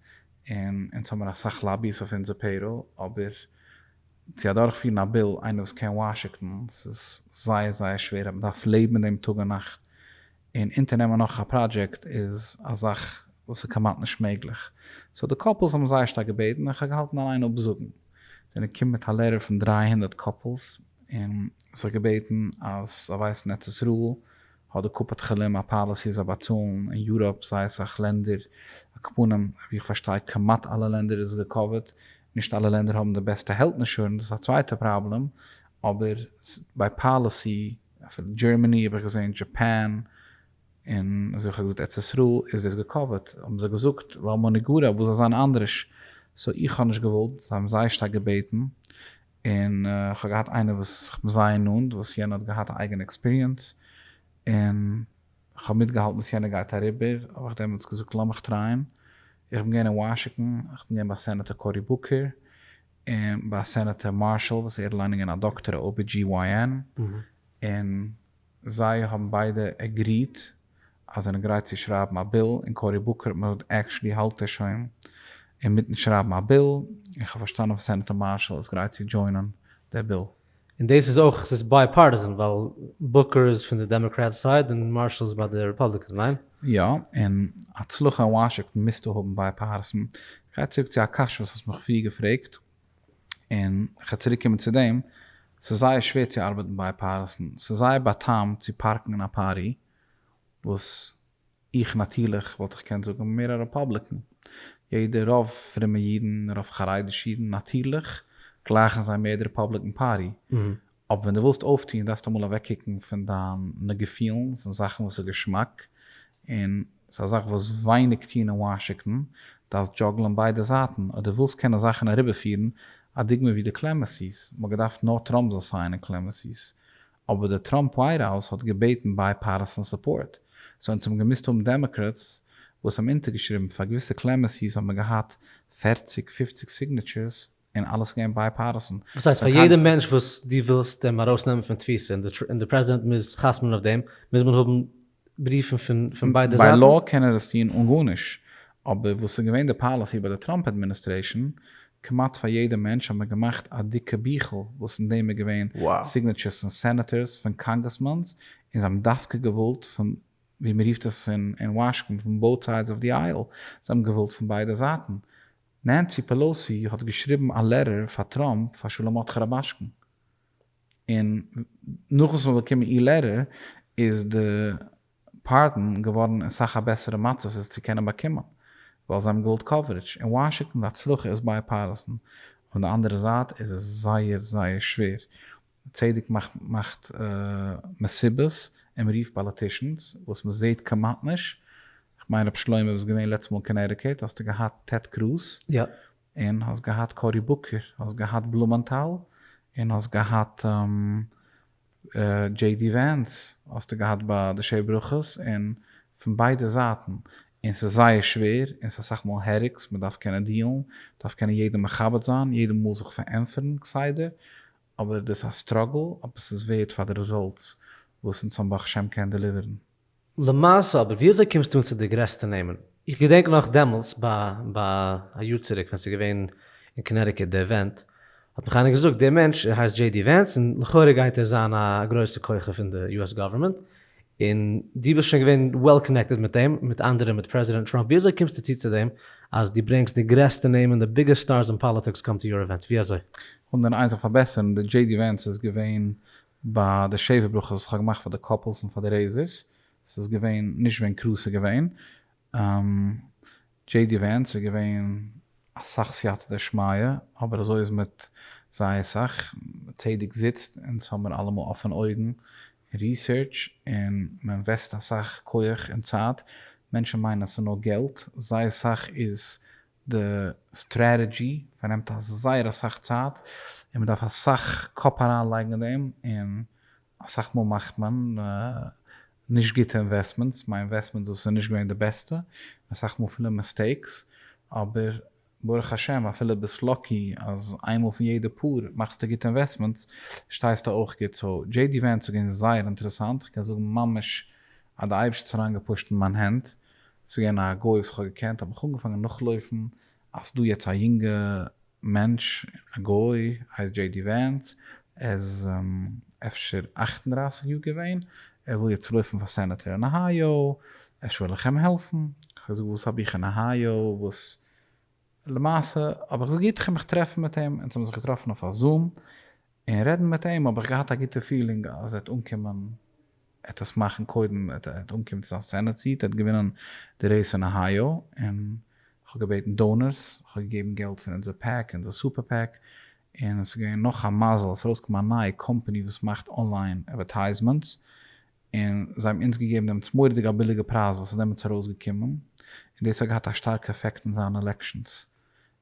און אונז האמיר אסאך לאבי'ס אויף אונזער פעיראל, אבער צו אדורכפירן א ביל, איינער וואס קען וואשיקטאן, ס'איז זייער זייער שווער, אז מ'דארף לעבן מיט דעם טאג און נאכט, און אונטערנעמען נאך א פראדזשעקט איז א זאך וואס איז כמעט נישט מעגליך. סאו די קאפלס האבן זייער שטארק געבעטן, און כ'האב געהאלטן אליין אפזאגן. זענען געקומען מיט א לעטער פון דרײַ הונדערט קאפלס, און זיך געבעטן אז זיי ווייסן ארץ ישראל האט די קופת חולים א פאליסי אז זיי באצאלן אין יוראפ זייער אסאך לענדער אקפנים, ווי איך פארשטיי כמעט אלע לענדער איז געקאווערט, נישט אלע לענדער האבן די בעסטע העלט אינשורענס דאס איז א צווייטע פראבלעם, אבער ביי פאליסי אפילו דזשערמעני האב איך געזעהן דזשאפאן און אזוי ווי איך האב געזאגט ארץ ישראל איז דאס געקאווערט האבן זיי געזאגט למה נגרע וואס זאל זיין אנדרעש, סאו איך האב נישט געוואלט זיי האבן זייער שטארק געבעטן און כ'האב געהאט איינער וואס איך בין זייער נאנט וואס יענער האט געהאט א אייגענע עקספיריענס, און כ'האב מיטגעהאלטן וואס יענער גייט אריבער, האב איך דעמאלטס געזאגט לאמיך טרייען, איך בין געווען אין וואשינגטאן, איך בין געווען ביי סענעטער קאורי בוקער, און ביי סענעטער מארשאל וואס ער האט לאנג געווען א דאקטער א OBGYN, און זיי האבן ביידע עגריעט אז זיי זענען גרייט צו שרייבן א ביל, און קארי בוקער מאוד עקשלי האלט ער שוין אינמיטן שרייבן א ביל, און כ'האב פארשטאנען וואס סענעטאר מארשאל איז גרייט צו דזשוינען דער ביל. און דאס איז אויך, ס'איז בייפארטיזען ווייל בוקער איז פון די דעמאקראט סייד און מארשאל איז ביי די רעפאבליקענס, ניין? יא, און הצלחה אין וואשינגטאן מוזטו האבן בייפארטיזען. כ'גיי צוריק צו א קשיא וואס האסט מיך פריער געפרעגט. און כ'וועל צוריק קומען צו דעם, ס'איז זייער שווער צו ארבעטן ביי פארעסטן, ס'איז זייער באטאם צו פארקן אין א פארי, וואס איך נאטירליך וואלט איך געקענט זאגן בין מער א רעפאבליקען, יעדער רוב פרומע אידן, רוב חרדישע אידן נאטירליך גלייכן זיי מער די רעפאבליקען פארטי, אבער ווען דו ווילסט אויפטון דארפסטו אמאל אוועקקוקן פון דיינע געפילן, פון זאכן וואס איז געשמאק, און ס'איז א זאך וואס ווייניג טון אין וואשינגטאן, דארפסט דזשאגלען ביידע זייטן, אויב דו ווילסט קענען זאכן אריבערפירן, א דוגמא ווי די קלעמעסי'ס, מ'האט געדארפט נאר טראמפ זאל סיינען קלעמעסי'ס, אבער די טראמפ ווייט האוז האט געבעטן בייפארטיסאן סופארט, סאו אונז האבן געמוזט האבן דעמאקראטס וואס האבן אונטערגעשריבן, פאר געוויסע קלעמעסי'ס האט מען געהאט פֿערציק פֿופֿציק סיגנעטשורס, און אלעס איז געווען בייפארטיסען. וואס הייסט פאר יעדע מענטש וואס דו ווילסט אים ארויסנעמען פון תפיסה און די פרעזידענט מוז חתמ'ן אויף דעם מוז מען האבן בריוון פון ביידע זייטן? ביי לאו קען ער עס טון אן גארנישט, אבער וואס איז געווען די פאליסי ביי די טראמפ אדמיניסטרעישאן, כמעט פאר יעדע מענטש האט מען געמאכט א דיקע ביכל וואס אין דעם איז געווען סיגנעטשערס פון סענעטערס פון קאנגרעסמאן'ס און זיי האבן דווקא געוואלט פון ווי מען רופט עס אין וואשינגטאן פון באוט סיידס אוו די אייל זיי האבן געוואלט פון ביידע זייטן נענסי פעלאוסי האט געשריבן א לעטער פאר טראמפ פאר שלמותך רבשקן, און נאכן ס'האט באקומען איר לעטער איז די פארדען געווארן אין סאך א בעסערע מצב עס צו קענען באקומען, ווייל זיי האבן געוואלט קאווערידזש אין וואשינגטאן, די הצלחה איז בייפארטיסן, אויף די אנדערע זייט איז עס זייער זייער שווער צדק מאכט מסיבות און מ'רופט פאליטישאנס, וואס מ'זעהט כמעט נישט, כ'מיין ר' שלמה ביסט געווען לעצטע מאל אין קאנעטיקעט האסטו געהאט טעד קרוז, און האסט געהאט קארי בוקער, האסט געהאט בלומענטאל, און האסט געהאט דזשעי די ווענס, האסטו געהאט ביי די שבע ברכות, און פון ביידע זייטן, און ס'איז זייער שווער, און ס'איז אסאך מאל העריקס, מ'דארף קענען דיעלן, מ'דארף קענען יעדעם מכבד זיין, יעדער מאל זיך פארענטפערן כסדר, אבער דאס א סטראגל אויב עס איז ווערד פאר די רעזאלטס וואס אונז האבן ברוך השם קען דעליווערן. למעשה אבער ווי אזוי קומסטו אן צו די גרעסטע נעמען? איך געדענק נאך דעמאלטס ביי א יאר צוריק ווען ס'איז געווען אין קאנעטיקעט די עווענט האט מיך איינער געזאגט די מענטש ער הייסט דזשעי די ווענס און לכאורה גייט ער זיין א גרויסע כוכב אין די יו עס גאווערמענט און דו ביסט שוין געווען וועל קאנעקטעד מיט אים, מיט אנדערע, מיט פרעזידענט טראמפ, ווי אזוי קומסטו צו צו דעם אז דו ברענגסט די גרעסטע נעמען, די ביגעסט סטארס אין פאליטיקס קאם טו יור עווענטס, ווי אזוי? כ'וויל דיר איין זאך פארבעסערן, די דזשעי די ווענס איז געווען ביי די שבע ברכות וואס כ'האב געמאכט פאר די קאפלס און פאר די רעיזערס, ס'איז געווען נישט ווען קרוז איז געווען, דזשעי די ווענס איז געווען אסאך סייעתא דשמיא אבער אזוי איז מיט זייער סאך צדק זיצט אונז האמיר אלעמאל אפענע אויגן און ריסערטש און מען אינוועסט אסאך כח און צייט מענטשן מיינען אז ס'נאר געלט זייער סאך איז די סטרעטעדזשי פארנעמט זייער אסאך צייט און מ'דארף אסאך קאפ אריינלייגן אין דעם, און אסאך מאל מאכט מען נישט גוטע אינוועסטמענטס, מיין אינוועסטמענט דאס איז נישט געווען די בעסטע, אסאך מאל פילע מיסטעיקס, אבער ברוך השם אפילו ביסט לאקי אז איינמאל פון יעדע פאר מאכסטו גוטע אינוועסטמענטס שטייסטו אויך גוט, סאו דזשעי די ווענס איז געווען זייער אינטערעסאנט, כ'קען זאגן ממש אז די אייבערשטער האט אריינגעפושט אין מיין הענט ס'איז געווען א גוי וואס איך האב געקענט, האב איך אנגעפאנגען נאכלויפן אז ס'איז דא יעצט א יונגע מענטש, א גוי, הייסט דזשעי די ווענס, ער איז אפשר אַכט און דרײַסיק יאר געווען, ער וויל יעצט לויפן פאר סענעטער אין אהייאו, אפשר וועל איך אים העלפן, איך האב געזאגט וואס האב איך אין אהייאו וואס, למעשה האב איך געזאגט גוט איך גיי מיך טרעפן מיט אים, אונז האבן זיך געטראפן אויף א זום, און רעדן מיט אים האב איך געהאט א גוטע פילינג אז ער האט אנקומען, ער האט עס מאכן קודם, ער האט אנגעקומען צו זיין סענעט סיעט, ער האט געווינען די רעיס אין אהייאו, און איך האב געבעטן דאונערס, איך האב געגעבן געלט פון אונזער פעק, אונזער סופער פעק, און עס איז געווען נאך א מזל עס איז ארויסגעקומען א נייע קאמפאני וואס מאכט אנליין אדווערטייזמענטס, און זיי האבן אונז געגעבן דעמאלטס מורא'דיג א ביליגע פרייז וואס איז דעמאלטס ארויסגעקומען, און דאס האט געהאט א שטארקע עפעקט אין זיין עלעקשאנס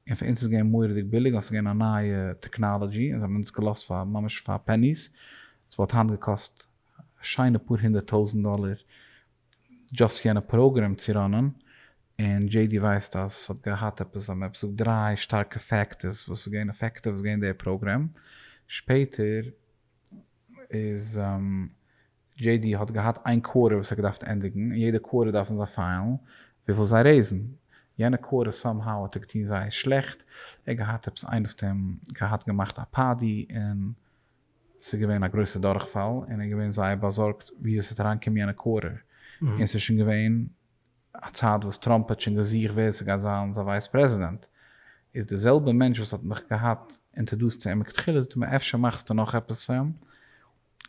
און פאר אונז איז געווען מורא'דיג ביליג ווייל ס'איז געווען א נייע טעקנאלעדזשי און זיי האבן אונז געלאזט פאר ממש פאר פעניס, עס וואלט היינט געקאסט א שיינע פאר הונדערט טויזענט דאלער דשאסט יענע פראגרעם צו ראנען, און דזשעי די ווייסט אז עס האט געהאט עפעס זיי האבן עפעס געזאגט דריי שטארקע פעקטערס וואס איז געווען עפעקטיוו איז געווען די פראגרעם, שפעטער איז. דזשעי די האט געהאט איין קווארטער וואס ער געדארפט ענדיגן, און יעדע קווארטער דארפן זיי פיילן וויפיל זיי רעיזן, יענע קווארטער סאם האו האט ער געטון זייער שלעכט, ער האט געהאט עפעס איין סיסטעם געהאט געמאכט א פאדי און ס'איז געווען א גרויסע דורכפאל, און ער איז געווען זייער באזארגט וויאזוי ס'וועט אריינקומען יענע קווארטער, און ס'איז שוין געווען א צייט וואס טראמפ האט שוין געזוכט ווער ס'גייט זיין זיין ווייס פרעזידענט, איז די זעלבע מענטש וואס האט מיך געהאט אינטערדוסט צו אים מכתחילה זאגט ער מיר אפשר מאכסטו נאך עפעס פאר אים,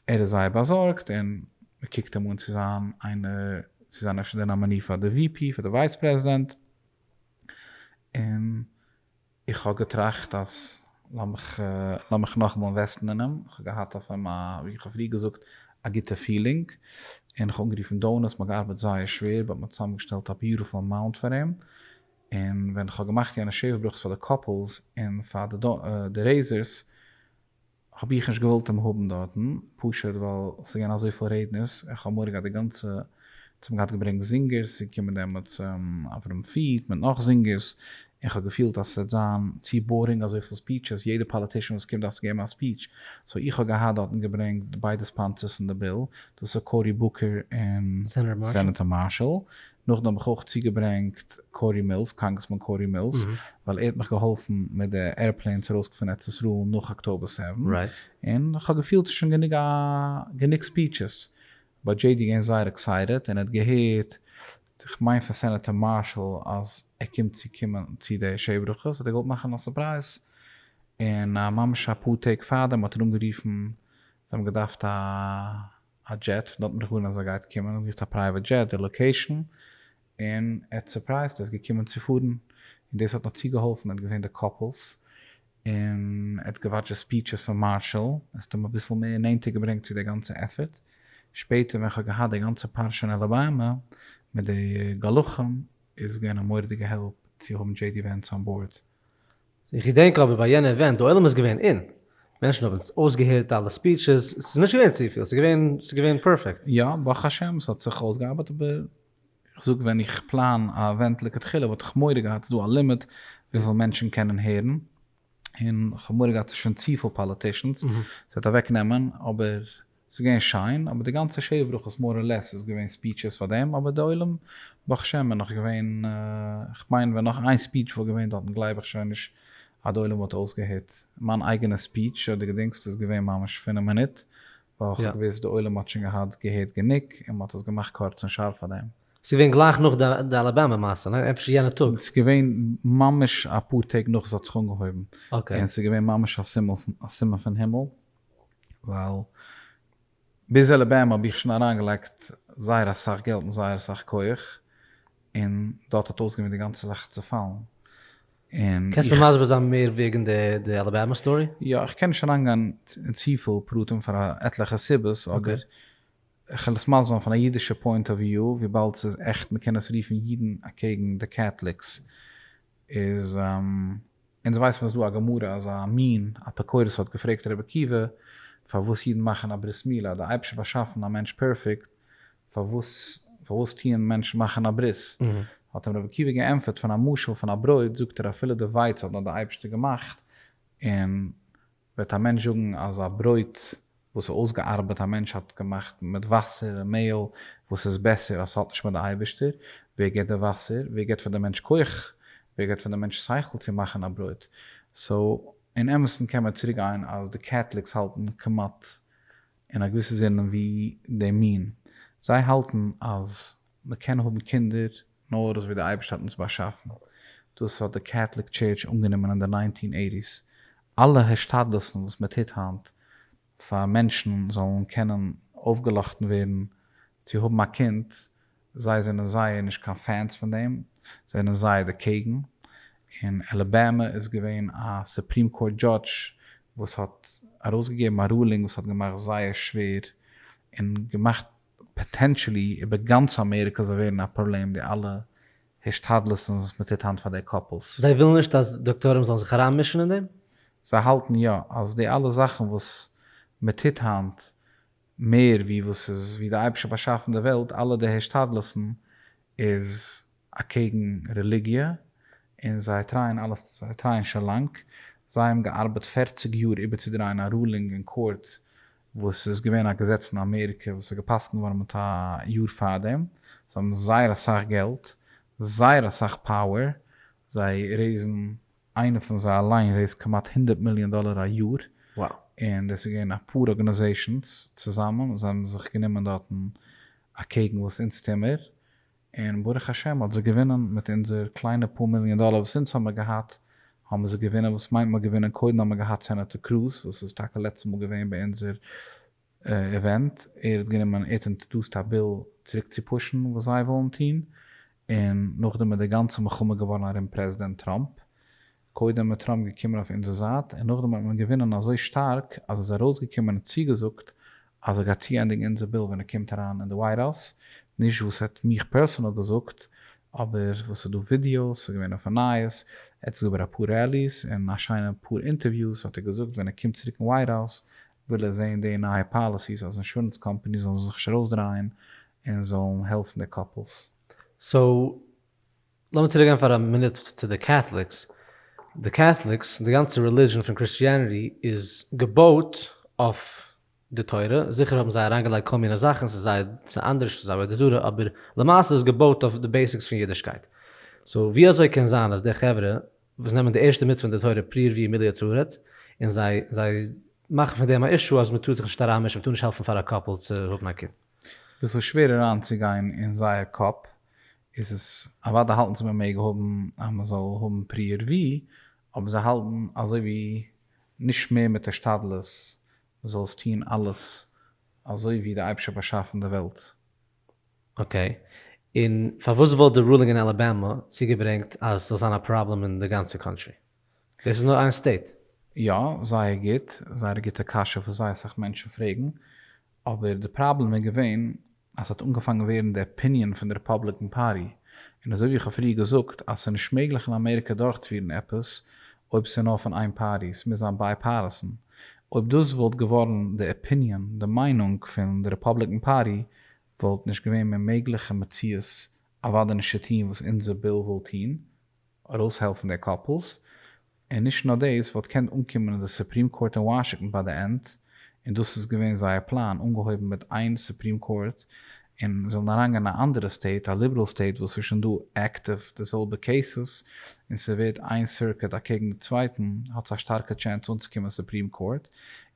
ער איז זייער באזארגט און מען קוקט אים אן צו זיין איינער צו זיין אפשר די נאמעני פאר די ווי פי פאר די ווייס פרעזידענט און איך האב געטראכט אז לאמיך לאמיך נאכאמאל אינוועסטן אין אים איך האב געהאט אויף אים א ווי איך האב פריער געזאגט א גוטע פילינג און איך האב אנגערופן דאונערס מען האט געארבעט זייער שווער באט מען האט צוזאם געשטעלט א ביוטיפול אמאונט פאר אים און ווען איך האב געמאכט יענע שבח ברכות פאר די קאפלס און פאר די רעיזערס האב איך נישט געוואלט אים האבן דארטן, פשוט ווייל ס'איז געווען אזויפיל רעדנערס, איך האב מורא געהאט די גאנצע, זיי האבן געהאט געברענגט זינגערס, ס'איז געקומען דעמאלטס אברהם פיעט מיט נאך זינגערס, און כ'האב געפילט אז ס'וועט זיין צו בארינג אזויפיל ספיעטשעס, יעדע פאליטישאן וואס קומט דארף צו געבן א ספיעטש, סאו איך האב געהאט דארטן געברענגט ביידע ספאנסערס פון די ביל, דאס איז קאורי בוקער און סענעטער מארשעל, נאכדעם האב איך אויך צוגעברענגט קארי מילס, קאנגרעסמאן קארי מילס, ווייל ער האט מיך געהאלפן מיט די עירפלעינס ארויסקוקן פון ארץ ישראל נאך אקטאבער סעווען, און כ'האב געפילט ס'איז שוין גענוג א גענוג ספיטשעס, באט דזשעי די געווען זייער עקסייטעד און ער האט געהערט, כ'מיין פון סענעטער מארשעל, אז ער קומט צו קומען צו די שעי ברכות, האט ער געוואלט מאכן א סורפרייז, און ממש אפאר טעג פארדעם האט ער אנגערופן, זיי האבן געדארפט א. א דזשעט פון דארטן דערהאן אז ער גייט קומען און געזאגט א פרייוועט דזשעט די לאקעישן און ער האט סורפרייזט ער איז געקומען צו פארן און דאס האט נאך צוגעהאלפן ער האט געזעהן די קאפלס און ער האט געוואטשט די ספיעטשעס פון מארשאל עס האט אים אביסל מער נענטער געברענגט צו די גאנצע עפערט שפעטער ווען כ'האב געהאט די גאנצע פרשה אין אלאבאמא מיט די גלחים איז געווען א מורא'דיגע העלפ צו האבן דזשעי די ווענס אן באורד. איך געדענק אבער ביי יענע עווענט די עולם איז געווען אין, מענטשן האבן אויסגעהערט אלע ספיטשעס, ס'איז נישט געווען צופיל, ס'איז געווען, ס'איז געווען פערפעקט. יא, ברוך השם, ס'האט זיך אויסגעארבייט, אבער איך זאג ווען איך פלאן א עווענט לכתחילה וואלט איך מורא געהאט ס'איז דא א לימיט וויפיל מענטשן קענען הערן, און כ'האב מורא געהאט ס'איז שוין צופיל פאליטישאנס, ס'וועט אוועקנעמען, אבער ס'איז געווען שיין, אבער די גאנצע שבע ברכות מאר אר לעס איז געווען ספיטשעס פאר דעם, אבער די עולם ברוך השם איז נאך געווען, כ'מיין ווען נאך איין ספיטש וואלט געווען דארטן גלייב איך שוין נישט אז די עולם וואלט אויסגעהערט מיין אייגענע ספיטש אדער געדינגסט, איז געווען ממש פון א מינוט, ווייל כ'האב געוויסט די עולם האט שוין געהאט געהערט גענוג און מ'האט עס געמאכט קורץ און שארף פאר דעם. ס'איז געווען גלייך נאך די אלאבאמא מעשה, ניין? אפשר יענע טאג? ס'איז געווען ממש אפאר טעג נאך ס'האט זיך אנגעהויבן, און ס'איז געווען ממש א סימן פון הימל. ווייל ביז אלעבעמע האב איך שוין אריינגעלייגט זייער אסאך געלט און זייער אסאך כח, און דארט האט אויסגעמוט די גאנצע זאך צופאלן, און איך. קענסט מיר מסביר זיין מער וועגן די אלעבאמע סטארי? יא, איך קען נישט אריינגיין אין צופיל פרטים פאר עטליכע סיבות, אבער כ'וועל עס מסביר זיין פון א אידישע פוינט אוו וויו, וויבאלד ס'איז עכט מ'קען עס רופן אידן אקעגן די קעטליקס, איז אונז ווייסן אז דא א גמרא אז א מין אפיקורס האט געפרעגט רבי עקיבא פארוואס אידן מאכן א ברית מילה אז די אייבערשטער האט באשאפן א מענטש פערפעקט פארוואס פארוואס טוען מענטשן מאכן א ברית האט אים רבי עקיבא געענטפערט פון א משל פון א ברויט זאגט ער אפילו די ווייץ האט נאר די אייבערשטער געמאכט און וועט א מענטש זאגן אז א ברויט וואס איז אויסגעארבעט, א מענטש האט געמאכט מיט וואסער און מעהל, וואס איז בעסער אז ס'האט נישט מיט די אייבערשטער? ווער געבט די וואסער? ווער געבט פאר די מענטש כח? ווער געבט פאר די מענטש שכל צו מאכן א ברויט? סאו אין אמת'ן קען מען צוריק גיין אז די קעטליקס האלטן כמעט אין א געוויסע זינען ווי די מין, זיי האלטן אז מען קען האבן קינדער נאר אזויווי די אייבערשטער האט אונז באשאפן, דאס האט די קעטליק טשערטש אנגענומען אין די ניינטין עיטיס, אלע השתדלות'ן וואס מען טוט היינט פאר מענטשן זאלן קענען אויפגעלאכטן ווערן צו האבן א קינד, זיי זענען זייער נישט קיין פענס פון דעם, זיי זענען זייער דערקעגן, אין אלעבאמע איז געווען א סופרים קאורט דזשאדש וואס האט ארויסגעגעבן א רולינג וואס האט געמאכט זייער שווער און געמאכט פאטענטשעלי איבער גאנץ אמעריקא זאל ווערן א פראבלעם די אלע השתדלות'ן וואס מען טוט היינט פאר די קאפלס. זיי ווילן נישט אז דאקטורים זאלן זיך אריינמישן אין דעם? זיי האלטן יא אז די אלע זאכן וואס מען טוט היינט מער ווי וואס איז ווי די אייבערשטער באשאפן די וועלט אלע די השתדלות'ן איז אקעגן רעליגיע און זיי טרייען אלעס זיי טרייען שוין לאנג זיי האבן געארבעט פֿערציק יאר איבערצודרייען א רולינג אין קאורט וואס ס'איז געווען א געזעץ אין אמעריקע וואס איז גע'פסק'נט געווארן מיט א יאר פארדעם, זיי האבן זייער אסאך געלט, זייער אסאך פאוער, זיי רעיזן, איינער פון זיי אליין רעיזט כמעט הונדערט מיליאן דאלער א יאר, און דאס איז געווען אפאר ארגאניזעישאנס צוזאמען, זיי האבן זיך גענומען דארטן אקעגן וואס אונז טוהמער, און ברוך השם האט זי געווינען מיט אונזער קליינע פאר מיליאן דאלער וואס אונז האמיר געהאט האבן מיר זיך געווינען וואס מיינט מיר געווינען קודם האמיר געהאט סענעטער קרוז וואס איז טאקע לעצטע מאל געווען ביי אונזער איווענט ער האט גענומען ער האט אינטרעדוסט א ביל צוריק צו פושן וואס זיי ווילן טון און נאכדעם איז די גאנצע מלחמה געווארן ארום פרעזידענט טראמפ קודם איז טראמפ געקומען אויף אונזער זייט און נאכדעם האט מען געווינען אזוי שטארק אז ער איז ארויסגעקומען און צוגעזאגט אז ער גייט צוענדיגן אונזער ביל ווען ער קומט אריין אין די ווייט האוז, נישט וואס ער האט מיך פערסאנעל געזאגט אבער וואס ס'איז דא ווידיאוס, ס'איז געווען אויפן נייעס, ער האט עס געבער אפאר רעליס און א שיינע פאר אינטערוויוס האט ער געזאגט ווען ער קומט צוריק אין ווייט האוז וויל ער זעהן די נייע פאליסיס אז אינשורענס קאמפאניס זאלן זיך נישט ארויסדרייען און זאלן העלפן די קאפלס. סאו לאמיר צוריק גיין פאר א מינוט צו די קעטליקס, די קעטליקס, די גאנצע רעלידשען פון קריסטיעניטי איז געבויט אויף די תורה, זיכער האבן זיי אריינגעלייגט כל מיני זאכן, ס'איז זייער, ס'איז אנדערש, ס'איז עבודה זרה, אבער למעשה איז עס געבויט אויף די בעסיקס פון אידישקייט. סאו ווי אזוי קען זיין אז די חברה וואס נעמען די ערשטע מצוה אין די תורה פריער ווי עמיליא צארעט, און זיי זיי מאכן פון דעם א אישו אז מ'טאר זיך נישט אריינמישן, מ'טאר נישט העלפן פאר א קאפל צו האבן א קינד. ביסל שווער אריינצוגיין אין זייער קאפ, איז עס אוודאי האלטן זיי מען מעג האבן אז מען זאל האבן פריער ווי, אבער זיי האלטן אזוי ווי נישט מער מיט השתדלות דו זאלסט טון אלעס אזוי ווי די אייבערשטער האט באשאפן די וועלט. אקעי, און פארוואס וואלט די רולינג אין אלאבאמא צוגעברענגט אז ס'זאל זיין א פראבלעם אין די גאנצע קאנטרי? דאס איז נאר איין סטעיט. יא, זייער גוט, זייער א גוטע קשיא וואס זייער אסאך מענטשן פרעגן, אבער די פראבלעם איז געווען אז ס'האט אנגעפאנגן ווערן די אפיניען פון די ריפאבליקען פארטי, און אזוי ווי איך האב פריער געזאגט אז ס'איז נישט מעגליך אין אמעריקע דורכצפירן עפעס אויב ס'איז נאר פון איין פארטי, ס'מוז זיין בייפארטיסען, אויב דאס וואלט געווארן די אפיניען, די מיינונג, פון די ריפאבליקען פארטי וואלט נישט געווען מער מעגליך אין מציאות אוודאי נישט צו טוהן וואס אונזער ביל וויל טוהן, ארויסהעלפן די קאפלס, און נישט נאר דאס, וואלט געקענט אנקומען אין די סופרים קאורט אין וואשינגטאן ביי די ענד, און דאס איז געווען זייער פלאן, אנגעהויבן מיט איין סופרים קאורט, און זאלן אריינגיין אין א אנדערע סטעיט, א ליבעראל סטעיט וואס איז שוין דא עקטיוו די זעלבע קעיסעס, און ס'ווערט איין סירקוט אקעגן די צווייטן, האטס א שטארקע טשענס אנצוקומען סופרים קאורט,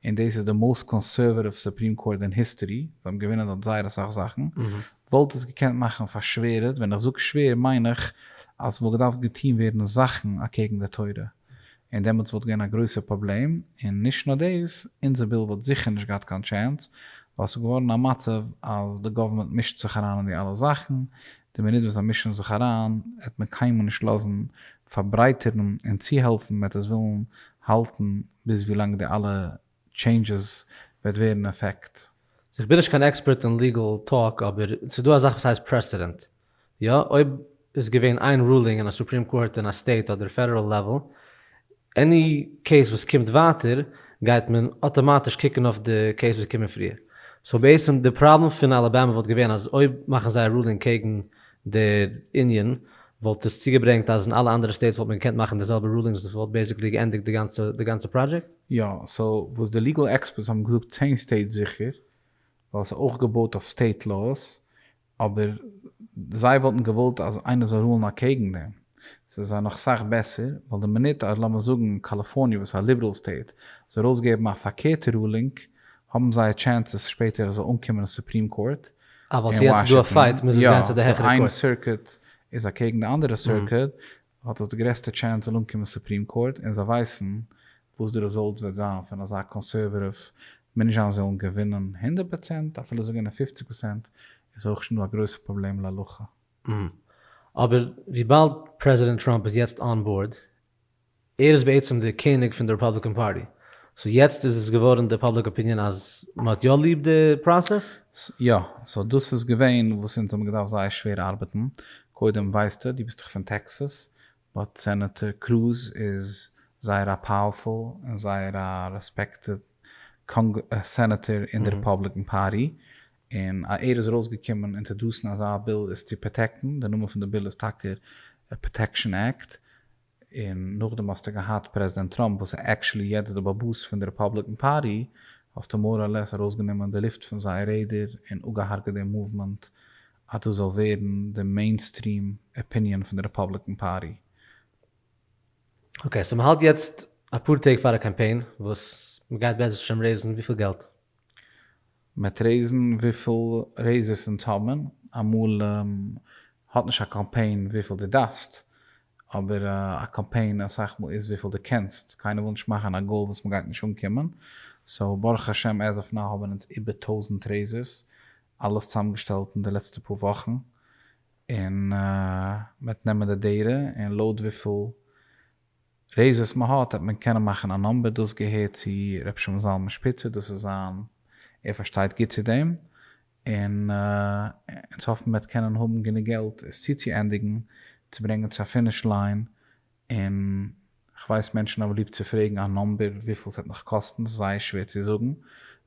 און דאס איז די מאוסט קאנסערוואטיוו סופרים קאורט אין היסטערי, זיי האבן געווינען דארט זייער אסאך זאכן, וואלט עס געקענט מאכן פארשווערעט, ווען איך זאג שווער מיין איך אז ס'וואלט געדארפט געטון ווערן זאכן אקעגן די תורה, און דעמאלטס וואלט געווען א גרויסער פראבלעם, און נישט נאר דאס, אונזער ביל וואלט זיכער נישט געהאט קיין טשענס, ווייל ס'איז געווארן א מצב אז די גאווערמענט מישט זיך אריין אין די אלע זאכן, די מינוט וואס זיי מישן זיך אריין עט מען קיינמאל נישט לאזן פארברייטערן און צוהעלפן, מעט עס ווילן האלטן ביז ווי לאנג די אלע טשעינדזשעס וועט ווערן עפעקט. איך בין נישט קיין עקספערט אין ליגעל טאלק אבער ס'איז דא א זאך וואס הייסט פרעסעדענט. יא, אויב איז געווען איין רולינג אין א סופרים קאורט אין א סטעיט אדער פעדעראל לעוועל, עני קעיס וואס קומט ווייטער גייט מען אטאמאטיש קוקן אויף די קעיס וואס איז געקומען פריער. סאו בעצם די פראבלעם פון אלאבאמא וואלט געווען אז אויב מאכן זיי א רולינג קעגן דער יוניאן וואלט עס צוגעברענגט אז אין אלע אנדערע סטעיטס וואלט מען געקענט מאכן די זעלבע רולינגס און ס'וואלט בעיסיקלי געענדיגט די גאנצע פראדזשעקט. יא, סאו וואס די ליגעל עקספערטס האבן געזאגט צען סטעיטס זיכער, ווייל ס'איז אויך געבויט אויף סטעיט לאוס, אבער זיי וואלטן געוואלט אז איינער זאל רולן אקעגן דעם, ס'איז זיי נאך סאך בעסער, ווייל די מינוט אז לאמיר זאגן קאליפארניע וואס איז א ליבעראל סטעיט זאל ארויסגעבן א פארקערטע רולינג האבן זיי טשענסעס שפעטער עס זאל אנקומען אין סופרים קאורט אין וואשינגטאן, יא, סאו איין סירקוט איז אקעגן די אנדערע סירקוט, האט עס די גרעסטע טשענס זאל אנקומען סופרים קאורט און זיי ווייסן וואס די רעזאלטס וועט זיין פון אזא קאנסערוועטיוו מנשה'ן זאלן געווינען הונדערט פראצענט אפילו זיי געווינען פופציג פראצענט איז הויך שוין דא א גרויסע פראבלעם להלכה. אהמ. אבער וויבאלד פרעזידענט טראמפ איז יעצט אן באורד, ער איז בעצם די קעניג פון די רעפאבליקען פארטי, סאו יעצט איז עס געווארן די פאבליק אפיניען אז מ'האט יא ליב די פראסעס? יא, סאו דאס איז געווען וואס אונז האבן געדארפט זייער שווער ארבעטן, קודם ווייסטו, דו ביסט דאך פון טעקסאס, באט סענעטאר קרוז איז זייער א פאוערפול און זייער א רעספעקטעד סענעטאר אין די רעפאבליקען פארטי, און אז ער איז ארויסגעקומען אינטערדאסן אזא ביל איז צו פראטעקטן, די נאמען פון די ביל איז טאקע פראטעקשאן עקט, און נאכדעם האסטו געהאט פרעזידענט טראמפ וואס איז עקשעלי יעצט די באבוס פון די רעפאבליקען פארטי, האסטו מאר אר לעס ארויסגענומען די לופט פון זייער רעדער און אפגעהארגעט די מאוומענט אז דאס זאל ווערן די מעינסטריעם אפיניען פון די רעפאבליקען פארטי. אקעי, סאו מ'האלט יעצט אפאר טעג פאר א קאמפיין וואס מ'גייט בעזהשי ת רעיזן וויפיל געלט? מ'עט רעיזן וויפיל רעיזערס אונז האבן, אמאל האט נישט א קאמפיין וויפיל דו דארפסט, אבער א קאמפיין אסאך מאל איז וויפיל דו קענסט, קיינער וויל נישט מאכן א גאול וואס מ'גייט נישט אנקומען, סאו ברוך השם עז אוו נאו האבן אונז איבער טויזנט רעיזערס, אלעס צוזאמגעשטעלט אין די לעצטע פאר וואכן, און מ'עט נעמען די דעטע און לויט וויפיל רעי ז וואס מען האט העט מען קענען מאכן א נאמבער דאס געהערט צו ר' שמעון זלמן שפיצער דאס איז זיין ער פארשטייט גוט צו דעם און אונז האפן מען וועט קענען האבן גענוג געלט עס צוצוענדיגן צו ברענגן צו א פיניש ליין און כ'ווייס מענטשן האבן ליב צו פרעגן א נאמבער וויפיל עס העט נאך קאסטן עס איז זייער שווער צו זאגן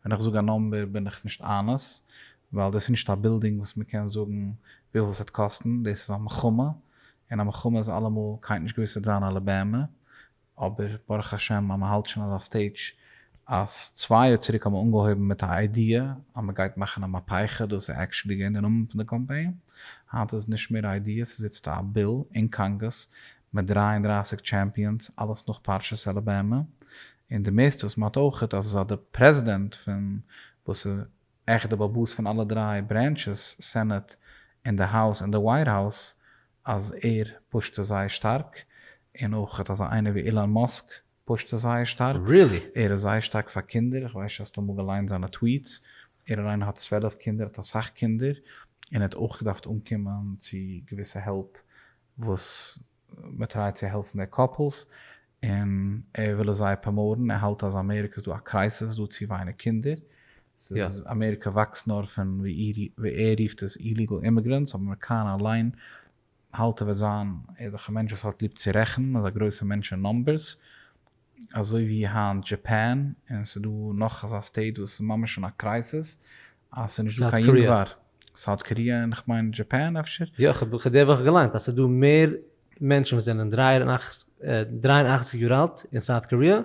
ווען איך זאג א נאמבער בין איך נישט אנעס ווייל דאס איז נישט א בילדינג וואס מען קען זאגן וויפיל עס העט קאסטן דאס איז א מלחמה און א מלחמה איז אלעמאל קיינט נישט געוואוסט וועט זיין א לבהמה, אבער ברוך השם אז מען האלט שוין אזא סטעידזש אז צוויי יאר צוריק האט מען אנגעהויבן מיט א איידיע אז מען גייט מאכן א מהפיכה, דאס איז עקשעלי געווען די נאמען פון די קאמפיין, היינט איז עס נישט מער א איידיע, עס איז איצטער א ביל אין קאנגעס מיט דרײַ און דרײַסיק טשעמפיאנס, אלעס נאך פרשת אלעבאמע, און די מערסטע וואס מען האט אויכעט אז עס איז אז די פרעזידענט פון וואס איז. עכט די באבאס פון אלע דריי ברענטשעס, סענעט און די האוז און די ווייט האוז, אז ער פושט עס זייער שטארק, און אויך אזא איינער ווי אילאן מאסק פושט עס זייער שטארק, ער איז זייער שטארק פאר קינדער, איך ווייס נישט האסט אמאל געליינט זיינע טוויטס, ער אליין האט צוועלף קינדער, האט אסאך קינדער, און ער האט אויך געדארפט אנקומען צו געוויסע העלפ וואס מען טרייט צו העלפן די קאפלס און ער וויל עס זייער פראמאוטן, ער האלט אז אמעריקע איז דא א קרייסיס, ס'דא צו ווייניג קינדער, ס'איז אמעריקע וואקסט נאר פון ווי ער רופט עס איליגעל אימיגרענטס, אבער מעקאנעל אליין האלט ער וועט זיין, ער איז דאך א מענטש וואס האט ליב צו רעכענען, אזא גרויסע מענטש אין נאמבערס, אזוי ווי היינט דזשעפען, און ס'איז דא נאך אזא סטעיט וואס איז ממש אין א קרייסיס אז ס'איז נישט דא קיין יונגווארג, סאוט קאריע און כ'מיין דזשעפען אפשר. יא, כ'האב די וואך געליינט אז ס'איז דא מער מענטשן וואס זענען דרײַ און אַכציק יאר אלט אין סאוט קאריע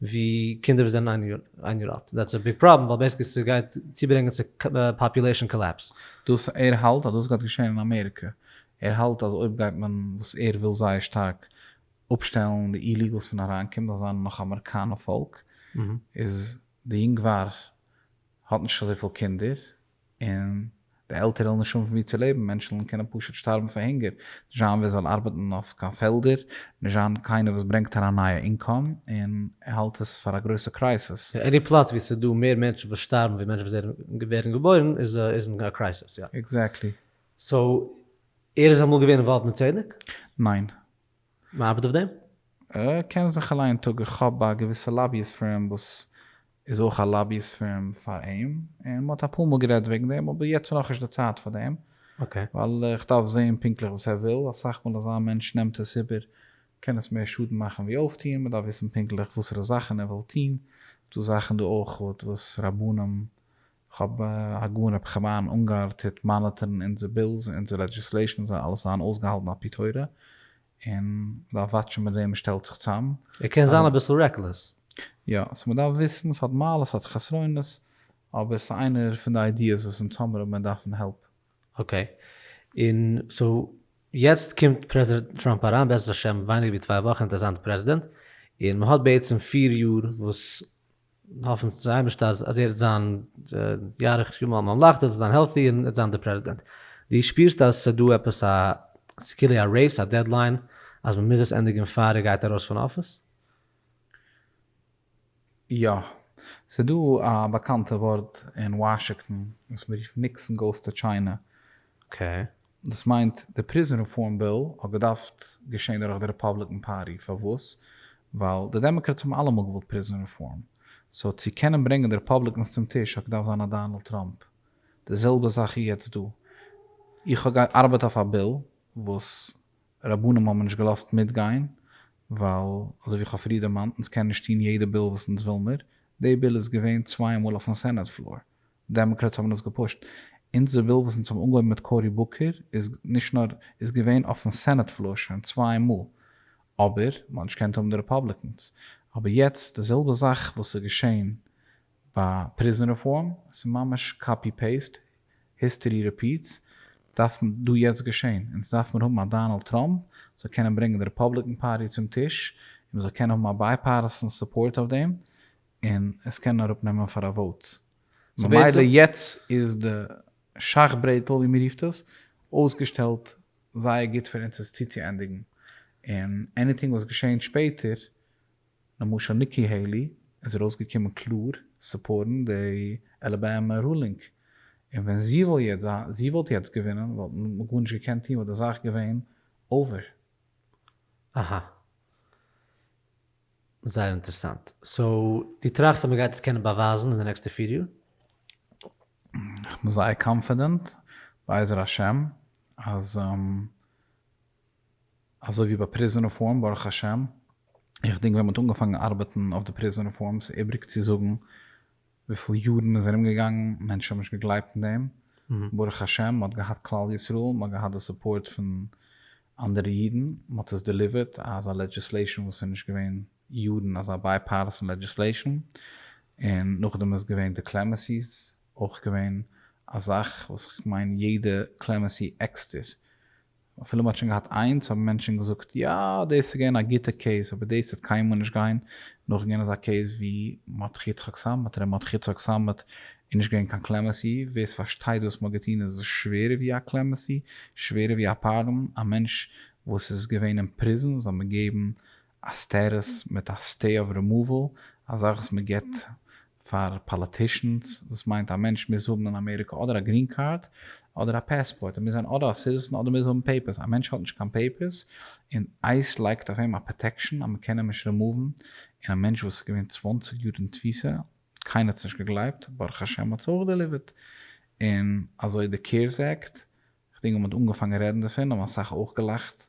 ווי קינדער וואס זענען איין יאר אלט, דעטס א ביג פראבלעם ווייל בעיסיקלי ס'גייט צוברענגען צו פאפולעישן קאלעפס. דאס ער האלט אז דאס גייט געשען אין אמעריקע, ער האלט אז אויב גייט מען וואס ער וויל זייער שטארק אפשטעלן די איליגעלס פון אריינקומען זאל זיין נאך אמעריקאנע פאלק איז די יונגוואר האט נישט אזויפיל קינדער און די עלטערע וועלן נישט האבן פון ווי צו לעבן מענטשן וועלן קענען פשוט שטארבן פון הונגער נישט זיין ווער זאל ארבעטן אויף קיין פעלדער נישט זיין קיינער וואס ברענגט אריין נייע אינקאם און ער האלט עס פאר א גרויסע קרייסעס. יא עני פלאץ ווי ס'איז דא מער מענטשן וואס שטארבן ווי מענטשן וואס ווערן געבוירן איז אין א קרייסעס יא. עקזעקטלי. סאו ער איז אמאל געווען אינוואלווד מיט צדק? ניין. מ'ארבעט אויף דעם? איך קען זיך אליין אין טאג, איך האב א געוויסע לאביאיסט פירם וואס איז אויך א לאביאיסט פירם פאר אים, און מ'האט אפאר מאל גערעדט וועגן דעם, אבער יעצט איז נאכנישט די צייט פאר דעם, ווייל איך דארף זעהן פונקטליך וואס ער וויל, אסאך מאל אזא מענטש נעמט עס איבער קען עס מער שאדן מאכן ווי אויפטוהן, מ'דארף וויסן פונקטליך וואסערע זאכן ער וויל טוהן, ס'דא זאכן דא אויך וואס רבנים כ'האב הגאון רבי חיים אונגאר טוט מאניטערן אונזער בילס און אונזער לעדזשיסלעישאן זאל אלעס זיין אויסגעהאלטן על פי תורה, און מ'דארף וואטשן מיט וועם מ'שטעלט זיך צאם. ער קען זיין אביסל רעקלעס. יא, סאו מ'דארף וויסן, ס'האט מעלות ס'האט חסרונות, אבער ס'איז איינער פון די איידיעס וואס אונז האמיר אבער מיר דארפן העלפ. אקעי, און סאו יעצט קומט פרעזידענט טראמפ אריין בעזרת השם ווייניגער ווי צוויי וואכן אינטערסאנטע פרעזידענט, און מ'האט בעצם פיר יאר וואס האפן צום אייבערשטן אז ער וועט זיין יאריך ימים על מלכתו, זאל זיין העלטי און וועט זיין דער פרעזידענט. דו שפירסט אז ס'איז דא עפעס א, ס'איז כאילו א רעיס, א דעדליין, אז מ'מוז עס ענדיגן פאר ער גייט ארויס פון אפיס? יא. ס'איז דא א באקאנטע ווארט אין וואשינגטאן וואס מ'רופט ניקסאן גאוס טו טשיינע. אקעי. דאס מיינט די פריזאן רעפארם ביל האט געדארפט געשען דורך די רעפאבליקען פארטי פארוואס ווייל די דעמאקרעטס האבן אלעמאל געוואלט פריזאן רעפארם סאו צו קענען ברענגען די רעפאבליקענס צום טיש האט געדארפט זיין א דאנעלד טראמפ די זעלבע זאך איז יעצט דא איך האב געארבעט אויף א ביל וואס רבנים האבן נישט געלאזט מיטגיין ווייל אזוי ווי איך האב פריער דערמאנט אונז קענען נישט טון יעדע ביל וואס אונז וויל מיר די ביל איז געווען צוויי מאל אויפן סענעט פלאר דעמאקרעטס האבן דאס געפושט. אונזער ביל וואס אונז האבן אנגעהויבן מיט קאורי בוקער איז נישט נאר איז געווען אויפן סענעט פלאר שוין צוויי מאל אבער מ'האט נישט געקענט האבן די רעפאבליקענס אבער יעצט די זעלבע זאך וואס איז געשען ביי פריזן רעפארם עס איז ממש קאפי פעיסט היסטערי ריפיעטס דארף דא יעצט געשען אונז דארף מיר האבן א דאנעלד טראמפ זאל קענען ברענגען די רעפאבליקען פארטי צום טיש און מ'זאל קענען האבן א בייפארטיסען סופארט אויף דעם און עס קען אראפ נעמען פאר א וואוט. סאו ממילא יעצט איז די שאך ברעטל ווי מען רופט עס אויסגעשטעלט זייער גוט פאר אונז עס צוצוענדיגן, און עניטינג וואס געשעהן שפעטער, למשל ניקי העילי איז ארויסגעקומען קלאר סופארטן די אלאבאמע רולינג, און ווען זי וויל יעצט זיין זי וואלט יעצט געווינען וואלט מען גארנישט געקענט טון וואלט די זאך געווען אווער. אהא. זייער אינטערעסאנט. סאו דו טראכסט אז מען גייט עס קענען באווייזן אין די נעקסטע פיר יאר? איך בין זייער קאנפידענט בעזר השם אז אזוי ווי ביי פריזאן רעפארם ברוך השם איך דינק ווען מען האט אנגעפאנגן ארבעטן אויף די פריזאן רעפארם ס'איבריג צו זאגן וויפיל יארן איז ארום געגאנגן מענטשן האבן נישט געגלייבט אין דעם, ברוך השם מ'האט געהאט כלל ישראל, מ'האט געהאט די סופארט פון אנדערע אידן, מ'האט עס דעליווערט אזא לעדזשיסלעישאן וואס איז נישט געווען יארן אזא בייפארסאן לעדזשיסלעישאן, און נאכדעם איז געווען די קלעמעסיס, אויך געווען א זאך וואס כ'מיין יעדע קלעמעסי עקסטער אפילו מ'האט שוין געהאט איינס האבן מענטשן געזאגט יא דאס איז געווען א גוטע קעיס אבער דאס וועט קיינמאל נישט גיין נאכגיין אזא קעיס ווי מרדכי יצחק סאמעט ר' מרדכי יצחק סאמעט איז נישט געווען קיין קלעמעסי ווער ס'פארשטייט וואס מ'האט געטון איז עס שווערער ווי א קלעמעסי שווערער ווי א פארדאן א מענטש וואס איז געווען אין פריזן זאל מען געבן א סטעטוס מיט א סטעי אוו רעמאוועל אזאך וואס מ'געבט פאר פאליטישאנס, דאס מיינט א מענטש מוז האבן אין אמעריקא אדער א גרין קארד אדער א פעספארט, ער מוז זיין אדער א סיטיזען אדער מוז האבן פעיפערס, א מענטש האט נישט קיין פעיפערס און אייס לייגט אויף אים א פראטעקשאן אז מען קען אים נישט רימאוון, און א מענטש וואס איז געווען צוואַנציק יאר אין תפיסה, קיינער האט עס נישט געגלייבט, ברוך השם האט עס אויך דעליווערט, און אזוי די קעירס עקט, כ'דינק ווען מען האט אנגעפאנגען רעדן דערפון האבן אסאך אויך געלאכט,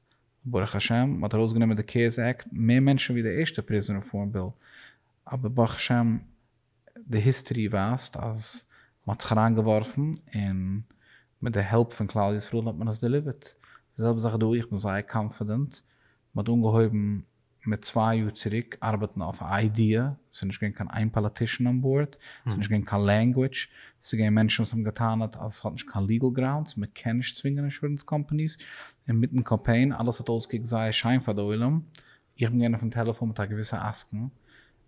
ברוך השם, מען האט ארויסגענומען די קעירס עקט, מער מענטשן ווי די ערשטע פריזאן רעפארם ביל, אבער ברוך השם די היסטערי ווייזט אז מ'האט זיך אריינגעווארפן און מיט די העלפ פון כלל ישראל האט מען עס דעליווערט. די זעלבע זאך דא, איך בין זייער קאנפידענט, מ'האט אנגעהויבן מיט צוויי יאר צוריק ארבעטן אויף א איידיע, ס'איז נישט געווען קיין איין פאליטישאן אן באורד, ס'איז נישט געווען קיין לענגוויטש, ס'איז געווען מענטשן וואס האבן געטענה'ט אז עס האט נישט קיין ליגעל גראונדס, מ'קען נישט צווינגען אינשורענס קאמפאניס, און מיטן קאמפיין, אלעס האט אויסגעקוקט זייער שיין פאר די עולם, איך בין געווען אויפן טעלעפאן מיט א געוויסע עסקן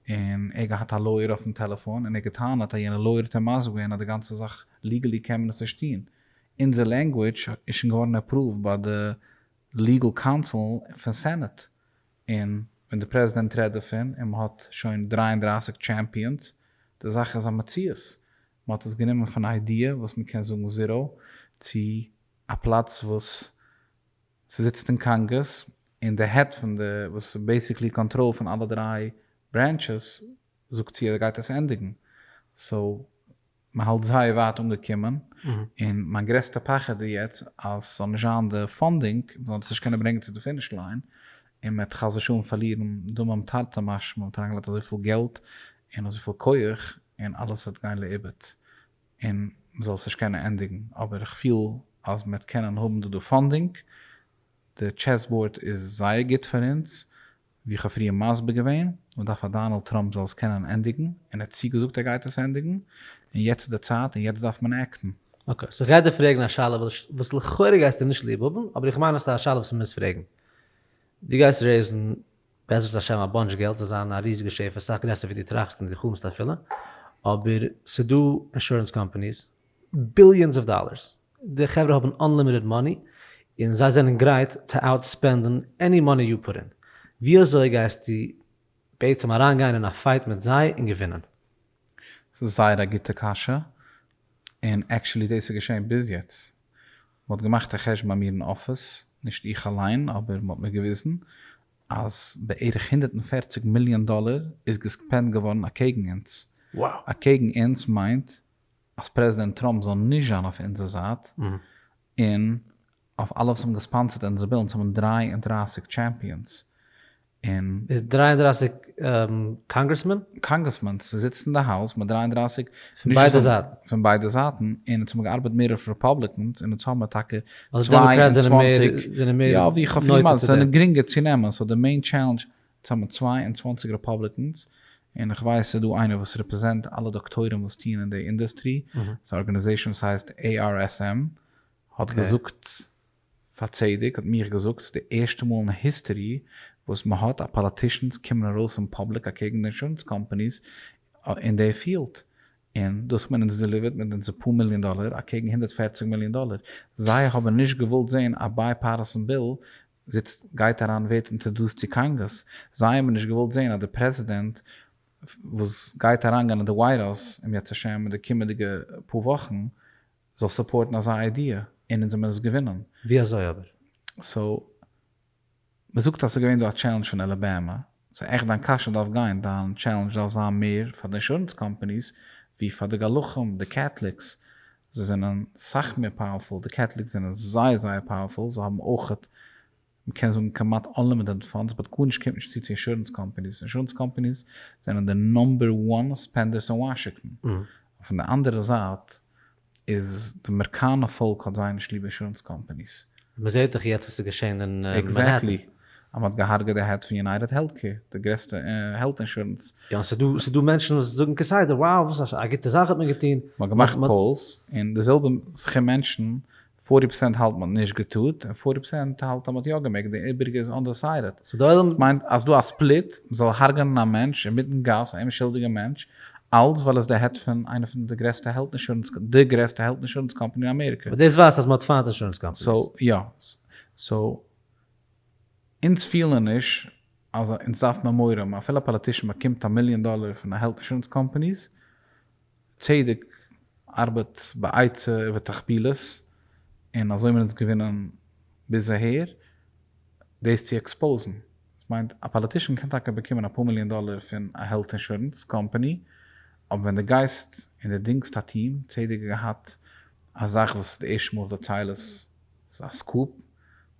און ער געהאט א לויער אויפן טעלעפאן און ער געטענה'ט אז יענע לויער האט אים מסביר געווען אז די גאנצע זאך ליגעלי קען מען עס נישט טון, אונזער לענגוויטש איז שוין געווארן עפראווד ביי די ליגעל קאונסיל פון סענעט און ווען די פרעזידענט רעדט דערפון און מ'האט שוין דרײַ און דרײַסיק טשעמפיאנס, די זאך איז א מציאות, מ'האט עס גענומען פון א איידיע וואס מ'קען זאגן זיראו צו א פלאץ וואס. ס'זיצט אין קאנגרעס און די העד פון די וואס איז בעיסיקלי קאנטראל פון אלע דריי ברענטשעס זאגט צו אז ער גייט עס ענדיגן סאו מ'האלט זייער ווייט אנגעקומען און מיין גרעסטע פחד איז יעצט אז ס'זאל נישט זיין די פאנדינג מ'זאל דאס נישט קענען ברענגען צו די פיניש ליין און מ'עט חס ושלום פארלירן דמים תרתי משמע מ'האט אריינגעלייגט אזויפיל געלט און אזויפיל כח און אלעס וועט גיין לאיבוד. און מ'זאל עס נישט קענען ענדיגן, אבער איך פיל אז מ'וועט קענען האבן דא די פאנדינג, די טשעס באורד איז זייער גוט פאר אונז, ווי איך האב פריער מסביר געווען, מ'דארף אז דאנעלד טראמפ זאל עס קענען ענדיגן, און ער האט צוגעזאגט ער גייט עס ענדיגן, און יעצט איז די צייט און יעצט דארף מען עקטן. אקעי, ס'איז רעדע פרעגן א שאלה וואס לכאורה גייסטו נישט ליב האבן, אבער איך מיין אז ס'איז א שאלה וואס מ'מוז פרעגן. דו גייסט רעיזן בעזרת השם א באנטש געלט זאל זיין א ריזיגע שפע סאך גרעסער ווי דו טראכסט און דו חלומסט אפילו, אבער ס'דא אינשורענס קאמפאניס, ביליאנס אוו דאלערס, די חברה האבן אנלימיטעד מאני און זיי זענען גרייט צו אוט ספענדן עני מאני יו פוט אין, ווי אזוי גייסטו בעצם אריין גיין אין א פייט מיט זיי און געווינען? ס'איז זייער א גוטע קשיא, און עקשעלי דאס איז געשען ביז יעצט, מען האט געמאכט א חשבון ביי מיר אין אפיס, נישט איך אליין, אבער מען האט מיר געוויזן, אז בערך הונדערט און פֿערציק מיליאן דאלער איז געספענדט געווארן אקעגן אונז. אקעגן אונז מיינט אז פרעזידענט טראמפ זאל נישט זיין אויף אונזער זייט, און אויף אלע וואס האבן געספאנסערט אונזער בילן, ס'האבן דרײַ און דרײַסיק טשעמפיאנס און. איז דרײַ און דרײַסיק קאנגרעסמען. קאנגרעסמען ס'זיצט אין די האוז מיט דרײַ און דרײַסיק. פון ביידע זייטן. פון ביידע זייטן און עס האבן געארבעט מער אויף רעפאבליקענס און עס האבן טאקע צוויי און צוואַנציק. אזוי דעמאקראט זענען מער זענען מער. יא ווי כ'האב פריער געמאלדן עס זענען גרינגער צו נעמען סאו די מעין טשעלענדזש עס האבן צוויי און צוואַנציק רעפאבליקענס און כ'ווייס ס'איז דא איינער וואס רעפרעזענט אלע דאקטוירים וואס טוען אין די אינדוסטרי ס'איז א ארגענעזעישאן וואס הייסט ARSM האט געזאגט פאר צדק האט מיך געזאגט ס'איז די ערשטע מאל אין היסטערי וואס מ'האט אז פאליטישאנס קומען ארויס אין פאבליק אקעגן די אינשורענס קאמפאניס אין די פיעלד און דאס האט מען אונז דעליווערט מיט אונזער פאר מיליאן דאלער אקעגן הונדערט פֿערציק מיליאן דאלער זיי האבן נישט געוואלט זעהן א בייפארסן ביל זיצט גייט אריין ווערט אינטערדוסט צו קאנגרעס זיי האבן נישט געוואלט זעהן אז די פרעזידענט וואס גייט אריינגיין אין די ווייט האוז אם ירצה השם אין די קומענדיגע פאר וואכן זאל סופארטן אזא איידיע, און אונז האבן עס געווינען. ווי אזוי אבער? סאו, מ'זאגט אז ס'איז געווען דא א טשעלענדזש פון אלאבאמא, סאו עכט דיין קשיא דארף גיין, דיין טשעלענדזש דארף זיין מער פאר די אינשורענס קאמפאניס ווי פאר די גלחים, די קעטליקס, זיי זענען סאך מער פאוערפול, די קעטליקס זענען זייער זייער פאוערפול, זיי האבן אויכעט מ'קען זאגן כמעט אנלימיטעד פאנדס באט גארנישט קומט נישט צו צו אינשורענס קאמפאניס, אינשורענס קאמפאניס זענען די נאמבער וואן ספענדערס אין וואשיקטאן, און פון די אנדערע זייט איז די מערקאנע פאלק האט זייער נישט ליב אינשורענס קאמפאניס. מ'זעט דאך יעצט וואס איז געשען אין מענהעטן. עקזעקטלי. אז מ'האט געהארגעט די העד פון יונייטעד העלט קעיר, די גרעסטע העלט אינשורענס. יא, און ס'איז דא, ס'איז דא מענטשן וואס זאגן כסדר, wow וואס א גוטע זאך האט מען געטון. מ'האט געמאכט פאולס, און די זעלבע סכום מענטשן פארטי פראצענט האלט מ'האט נישט געטוהט און פארטי פראצענט האלט אז מ'האט יא געמעגט, די איבעריגע איז אנדעסיידעט. ס'דאס מיינט אז ס'דא א ספליט מ'זאל הארגענען א מענטש אינמיטן גאס, א אומשולדיגע מענטש, אלץ ווייל ער איז די העד פון איינע פון די גרעסטע העלט אינשורענס, די גרעסטע העלט אינשורענס קאמפאני אין אמעריקע. אבער דאס ווייזט אז מ'האט פיינט אינשורענס קאמפאניס. סאו יא. סאו אונז פילן נישט אז אונז דארף מעמורעם, אפילו א פאליטישן באקומט א מיליאן דאלער פון א העלט אינשורענס קאמפאניס, צדק ארבעט בעצה ובתחבילות און אזוי האבן אונז געווינען ביז אהער, דאס צו עקספאוזן מיינט א פאליטישאן קען טאקע באקומען אפאר מיליאן דאלער פון א העלט אינשורענס קאמפאני אבער ווען די גייסט און די דינגסט א טיעם, צדק האט געהאט א זאך וואס איז די ערשטע מאל וועט טיילעס איז א סקופ,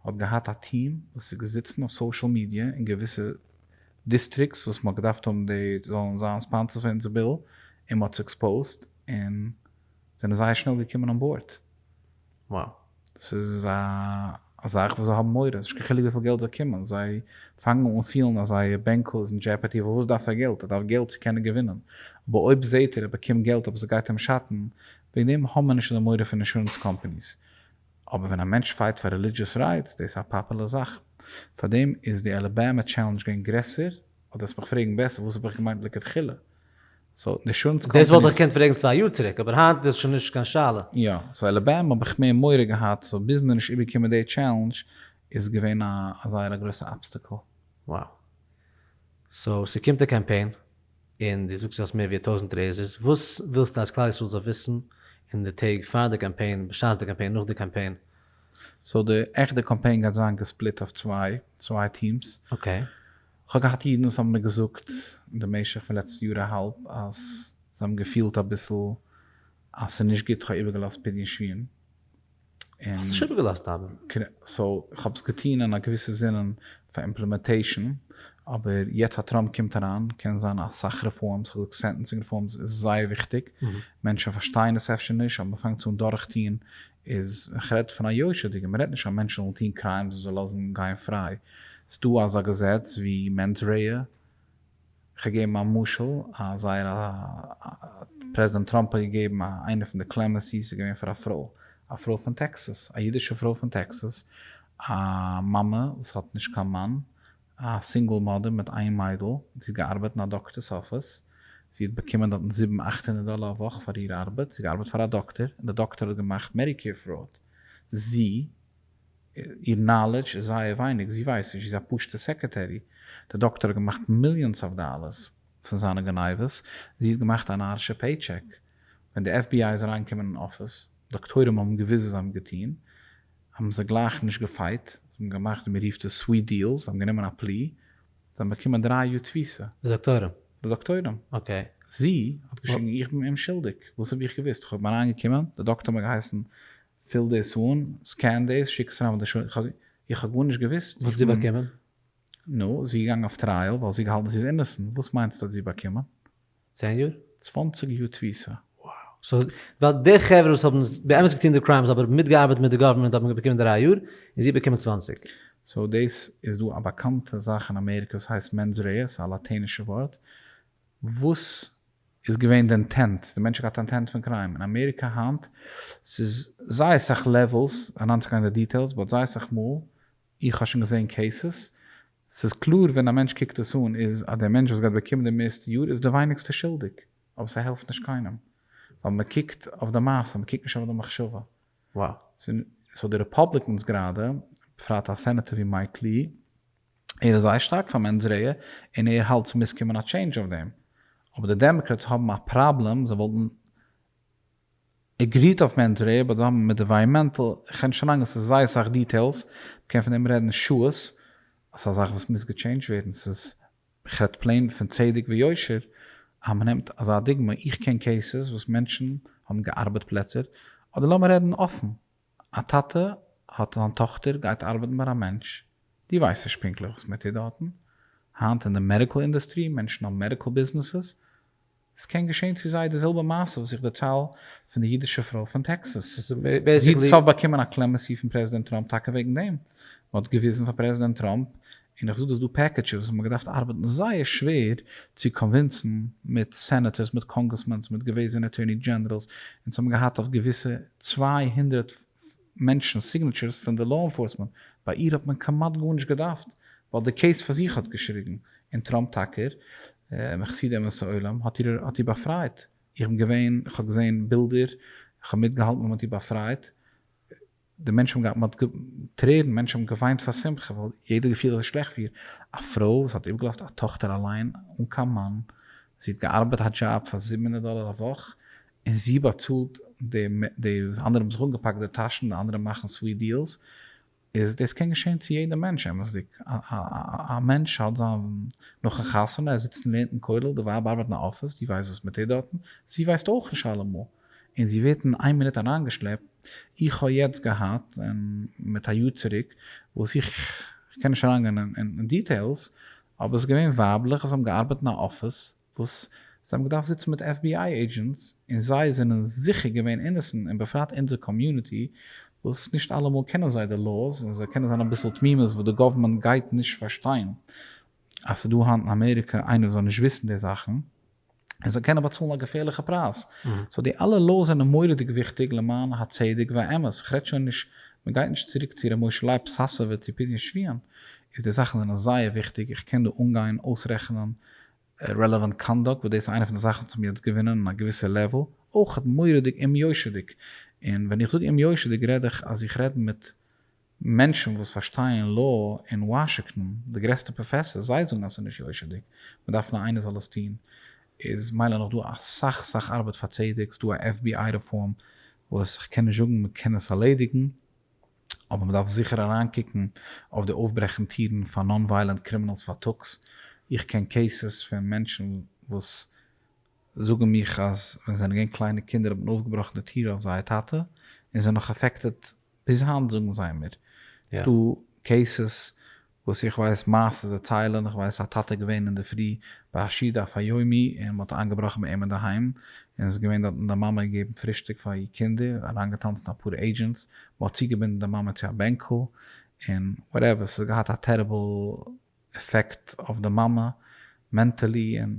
האט געהאט א טיעם וואס איז געזיצן אויף סאושעל מידיע און געוויסע דיסטריקטס וואס מ'האט געדארפט האבן די זאלן זיין ספאנסערס פון אונזער ביל, און מ'האט עס עקספאוזט, און זענען זייער שנעל געקומען אן באורד. Wow. דאס איז א זאך וואס זיי האבן מורא, נישט קיין חילוק וויפיל געלט זיי קומען, זיי פאנגן אן פילן אז זייער בענקל איז אין דזשעפערטי, פארוואס דארף ער געלט? ער דארף געלט צו קענען געווינען, אבער אויב זעט ער ער באקומט געלט אבער ס'גייט אים שאטן, וועגן דעם האבן מיר נישט אזא מורא פון אינשורענס קאמפאניס. אבער ווען א מענטש פייט פאר רעלידזשעס רייטס דאס איז א פאפולער זאך. פארדעם איז די אלאבאמע טשעלענדזש געווען גרעסער, אדער האסט מיך פרעגן בעסער וואס האב איך געמיינט לכתחילה. סאו אינשורענס קאמפעניס. דאס וואלט איך געקענט פרעגן צוויי יאר צוריק אבער היינט איז עס שוין נישט קיין שאלה. יא, סאו אלאבאמע האב איך מער מורא געהאט, סאו ביז מיר נישט איבערקומען די טשעלענדזש איז געווען א זייער א גרויסע אבסטעקל. Wow. סאו ס'קומט א קאמפיין? און דו זאגסט דו האסט מער ווי א טויזנט רעיזערס, וואס ווילסטו אז כלל ישראל זאל וויסן אין די טעג פאר די קאמפיין, בשעת די קאמפיין, נאך די קאמפיין? סאו די עכטע קאמפיין גייט זיין געספליט אויף צוויי, צוויי טיעמס. אקעי. כ'האב געהאט אידן וואס האבן מיר געזאגט אין די משך פון לעצטע יאר א האלב אז זיי האבן געפילט אביסל אז ס'נישט גוט, כ'האב איבערגעלאזט פדיון שבויים. האסט עס שוין איבערגעלאזט אבי? כנ ס, איך האב עס געטון אין א געוויסע זינען פאר אימפלעמעטעישאן, אבער יעצט אז טראמפ קומט אריין קען זיין אסאך רעפארמס, כ'האב געזאגט סענטענסינג רעפארמס איז זייער וויכטיג, מענטשן פארשטייען עס אפשר נישט אבער מען פאנגט אן דורכטון, איז ווען כ'רעד פון א יושר'דיגער, מען רעדט נישט אז מענטשן זאלן טון קריימס און זיי לאזן גיין פריי, ס'דא אזא געזעץ ווי מענס רעא, כ'האב געגעבן א משל א זייער א פרעזידענט טראמפ האט געגעבן א איינע פון די קלעמענסיס איז געווען פאר א פרוי א פרוי פון טעקסעס א אידישע פרוי פון טעקסעס א מאמע וואס האט נישט קיין מאן א סינגעל מאדער מיט איין מיידל זי האט געארבעט אין א דאקטערס אפיס זי האט באקומען דארטן זיבן אכט הונדערט דאלער א וואך פאר איר ארבעט זי האט געארבעט פאר א דאקטער און די דאקטער האט געמאכט מעדיקעיר פראוד זי איר נאלעדזש איז זייער ווייניג, זי ווייסט נישט, זי איז א פשוטע סעקערטערי, די דאקטאר האט געמאכט מיליאנס אוו דאלערס פון זיינע גניבות, זי האט געמאכט א נארישע פעי טשעק, ווען די עף בי איי איז אריינגעקומען אין אפיס, דאקטוירים האבן געוויסט וואס זיי האבן געטון, האבן זיי גלייך נישט געפייט, זיי האבן געמאכט ווי מען רופט עס סוויט דיעלס, זיי האבן גענומען א פלי, זיי האבן באקומען דרײַ יאר תפיסה. די דאקטוירים? די דאקטוירים. אקעי. זי האט געשריגן איך בין אומשולדיג, וואס האב איך געוויסט, איך האב אים אריינגעקומען, די דאקטאר האט מיר געהייסן פיל דאס אן, סקען דאס, שיק עס אריין ווייל די שו. איך האב גארנישט געוואוסט. וואס האט זי באקומען? נו, זי איז געגאנגען אויף טרייעל ווייל זי האט געהאלטן זי איז אינעסענט, וואס מיינסטו האט זי באקומען? צען יאר? צוואנציג יאר תפיסה. סאו ווייל די חברה וואס האבן באמת געטון די קריימס אבער מיטגעארבעט מיט די גאווערמענט האבן באקומען דרײַ יאר און זי האט באקומען צוואַנציק. סאו דאס איז דא א באקאנטע זאך אין אמעריקע וואס הייסט מענס רעיס, א לאטענישע ווארט וואס איז געווען די אינטענט, די מענטש האט געהאט אינטענט פון קריים, אין אמעריקא היינט ס'איז זייער סאך לעוועלס, אריינצוגיין אין די דיטעילס, באט זייער סאך מאל, איך האב שוין געזען קעיסעס, ס'איז קלאר ווען א מענטש קוקט עס אן איז אז די מענטש וואס גייט באקומען די מערסטע יאר איז די ווייניגסטע שולדיג, אבער ס'העלפט נישט קיינעם, ווייל מ'קוקט אויף די מעשה, מ'קוקט נישט אויף די מחשבה. סאו די רעפאבליקענס גראדע, בפרט א סענעטער ווי מייק לי, ער איז זייער שטארק פאר מענס רעע און ער האלט ס'מוז קומען א טשעינדזש אויף דעם. אבער די דעמאקרעטס האבן א פראבלעם, זיי וואלטן עגריט אויף מענס רעע באט זיי האבן מיט עווייעמענטל, כ'קען נישט אריינגיין ס'איז זייער סאך דיטעילס, מ'קען פון דעם רעדן שעות, ס'איז א זאך וואס מוז געטשעינדזש ווערן, ס'איז כ'רעדט פלעין פון צדק ויושר, אז מ'נעמט אזא דוגמא, איך קען קעיסעס וואס מענטשן האבן געארבעט פלעצער, אדער לאמיר רעדן אפן, א טאטע האט זיין טאכטער גייט ארבעטן ביי א מענטש, דו ווייסט נישט פונקטליך וואס מען טוט דארטן, היינט אין די מעדיקל אינדוסטרי, מענטשן האבן מעדיקל ביזנעסעס, עס קען געשען צו זיי די זעלבע מעשה וואס איך דערצייל פון די אידישע פרוי פון טעקסאס, זי האט באקומען א קלעמעסי פון פרעזידענט טראמפ טאקע וועגן דעם, מען האט געוויזן פאר פרעזידענט טראמפ און איך זאג דאס דא פעקעדזשעס וואס מ'האט געדארפט ארבעטן זייער שווער צו קאנווינסן מיט סענעטערס מיט קאנגרעסמענס מיט געוועזענע אטוירני דזשענעראלס אונז האבן געהאט אויף געוויסע צוויי הונדערט מענטשן סיגנעטשערס פון די לאו אינפארסמענט ביי איר האט מען כמעט גארנישט געדארפט ווייל די קעיס פאר זיך האט געשריגן און טראמפ טאקער מחסידי אומות העולם האט איר האט איר באפרייט איך בין געווען איך האב געזען בילדער איך האב מיטגעהאלטן ווען מ'האט איר באפרייט. די מענטשן האבן געהאט מען האט טרערן מענטשן האבן געוויינט פאר שמחה ווייל יעדער האט געפילט אזוי שלעכט פיר א פרוי וואס האט איבערגעלאזט א טאכטער אליין אן קיין מאן זי האט געארבעט א דזשאב פאר זיבן הונדערט דאלער א וואך און זי באצאלט די די אנדערע האבן זיך אנגעפאקט די טאשן די אנדערע מאכן סוויט דיעלס איז דאס קען געשען צו יעדע מענטש אמת'דיג א מענטש האט זיין נאכן חתונה ער זיצט און לערנט אין כולל די ווייב ארבעט אין א אפיס די ווייסט וואס מען טוט דארטן זי ווייסט אויך נישט אלעמאל. און זי ווערט אין איין מינוט אריינגעשלעפט, איך האב יעצט געהאט, און מיט א יאר צוריק, וואס איך איך קען נישט אריינגיין אין דיטעילס, אבער עס איז געווען ווייבלעך וואס האבן געארבעט אין א אפיס, וואס זיי האבן געדארפט זיצן מיט עף בי איי עידזשענטס, און זיי זענען זיכער געווען אינעסענט, און בפרט אונזער קאמיוניטי, וואס נישט אלעמאל קענען זיי די לאוס, און זיי קענען זיין אביסל תמימות וואס די גאווערמענט גייט נישט פארשטיין אז ס'איז דא היינט אין אמעריקע איינער וואס זאל נישט וויסן די זאכן. און זיי קענען באצאלן א געפערליכע פרייז, סאו די אלע לאוס זענען מורא'דיג וויכטיג למען הצדק והאמת, איך רעד שוין נישט, מען גייט נישט צוריק צו ר' משה לייב פ סאסאווע צו פדיון שביעין, איז די זאכן זענען זייער וויכטיג, איך קען דא אנגיין אויסרעכענען רעלעווענט קאנדאקט וואס דאס איז איינע פון די זאכן וואס האבן יעצט געווינען אין א געוויסע לעוועל, אויך מורא'דיג אומ'יושר'דיג, און ווען איך זאג אומ'יושר'דיג רעד איך אז איך רעד מיט מענטשן וואס פארשטייען לאו אין וואשיקטאן, די גרעסטע פראפעסארס, זיי זאגן אז ס'איז נישט יושר'דיג, מ'דארף נאר איינער זאל עס טון, איז מילא נאך דא אסאך סאך ארבעט פאר צדק, ס'דא א עף בי איי רעפארם וואס כ'קען נישט זאגן מ'קען עס ארלעדיגן, אבער מ'דארף זיכער אריינקוקן אויף די אויפברעכן טירן פאר נאן ווייעלענט קרימינאלס פארטאגס, איך קען קעיסעס פון מענטשן וואס זאגן מיך אז ווען זיי זענען געווען קליינע קינדער האט מען אויפגעבראכן די טיר אויף זייער טאטע און זיי האבן נאך עפעקטעד ביז היינט זאגן זיי מיר, ס'איז דא קעיסעס וואס איך ווייס מעשה זיי ציילען, איך ווייס א טאטע געווען אינדערפרי ביי א שיד אויף א יומי און מ'האט איינגעבראכן ביי אים אינדערהיים און ס'איז געווען דארטן די מאמע געבן פרישטאג פאר איר קינדער, אריינגעטאנצן אפאר עידזשענטס, מ'האט צוגעבינדן די מאמע צו א בענקל און וואטעווער, ס'האט געהאט א טעריבל עפעקט אויף די מאמע מענטעלי און.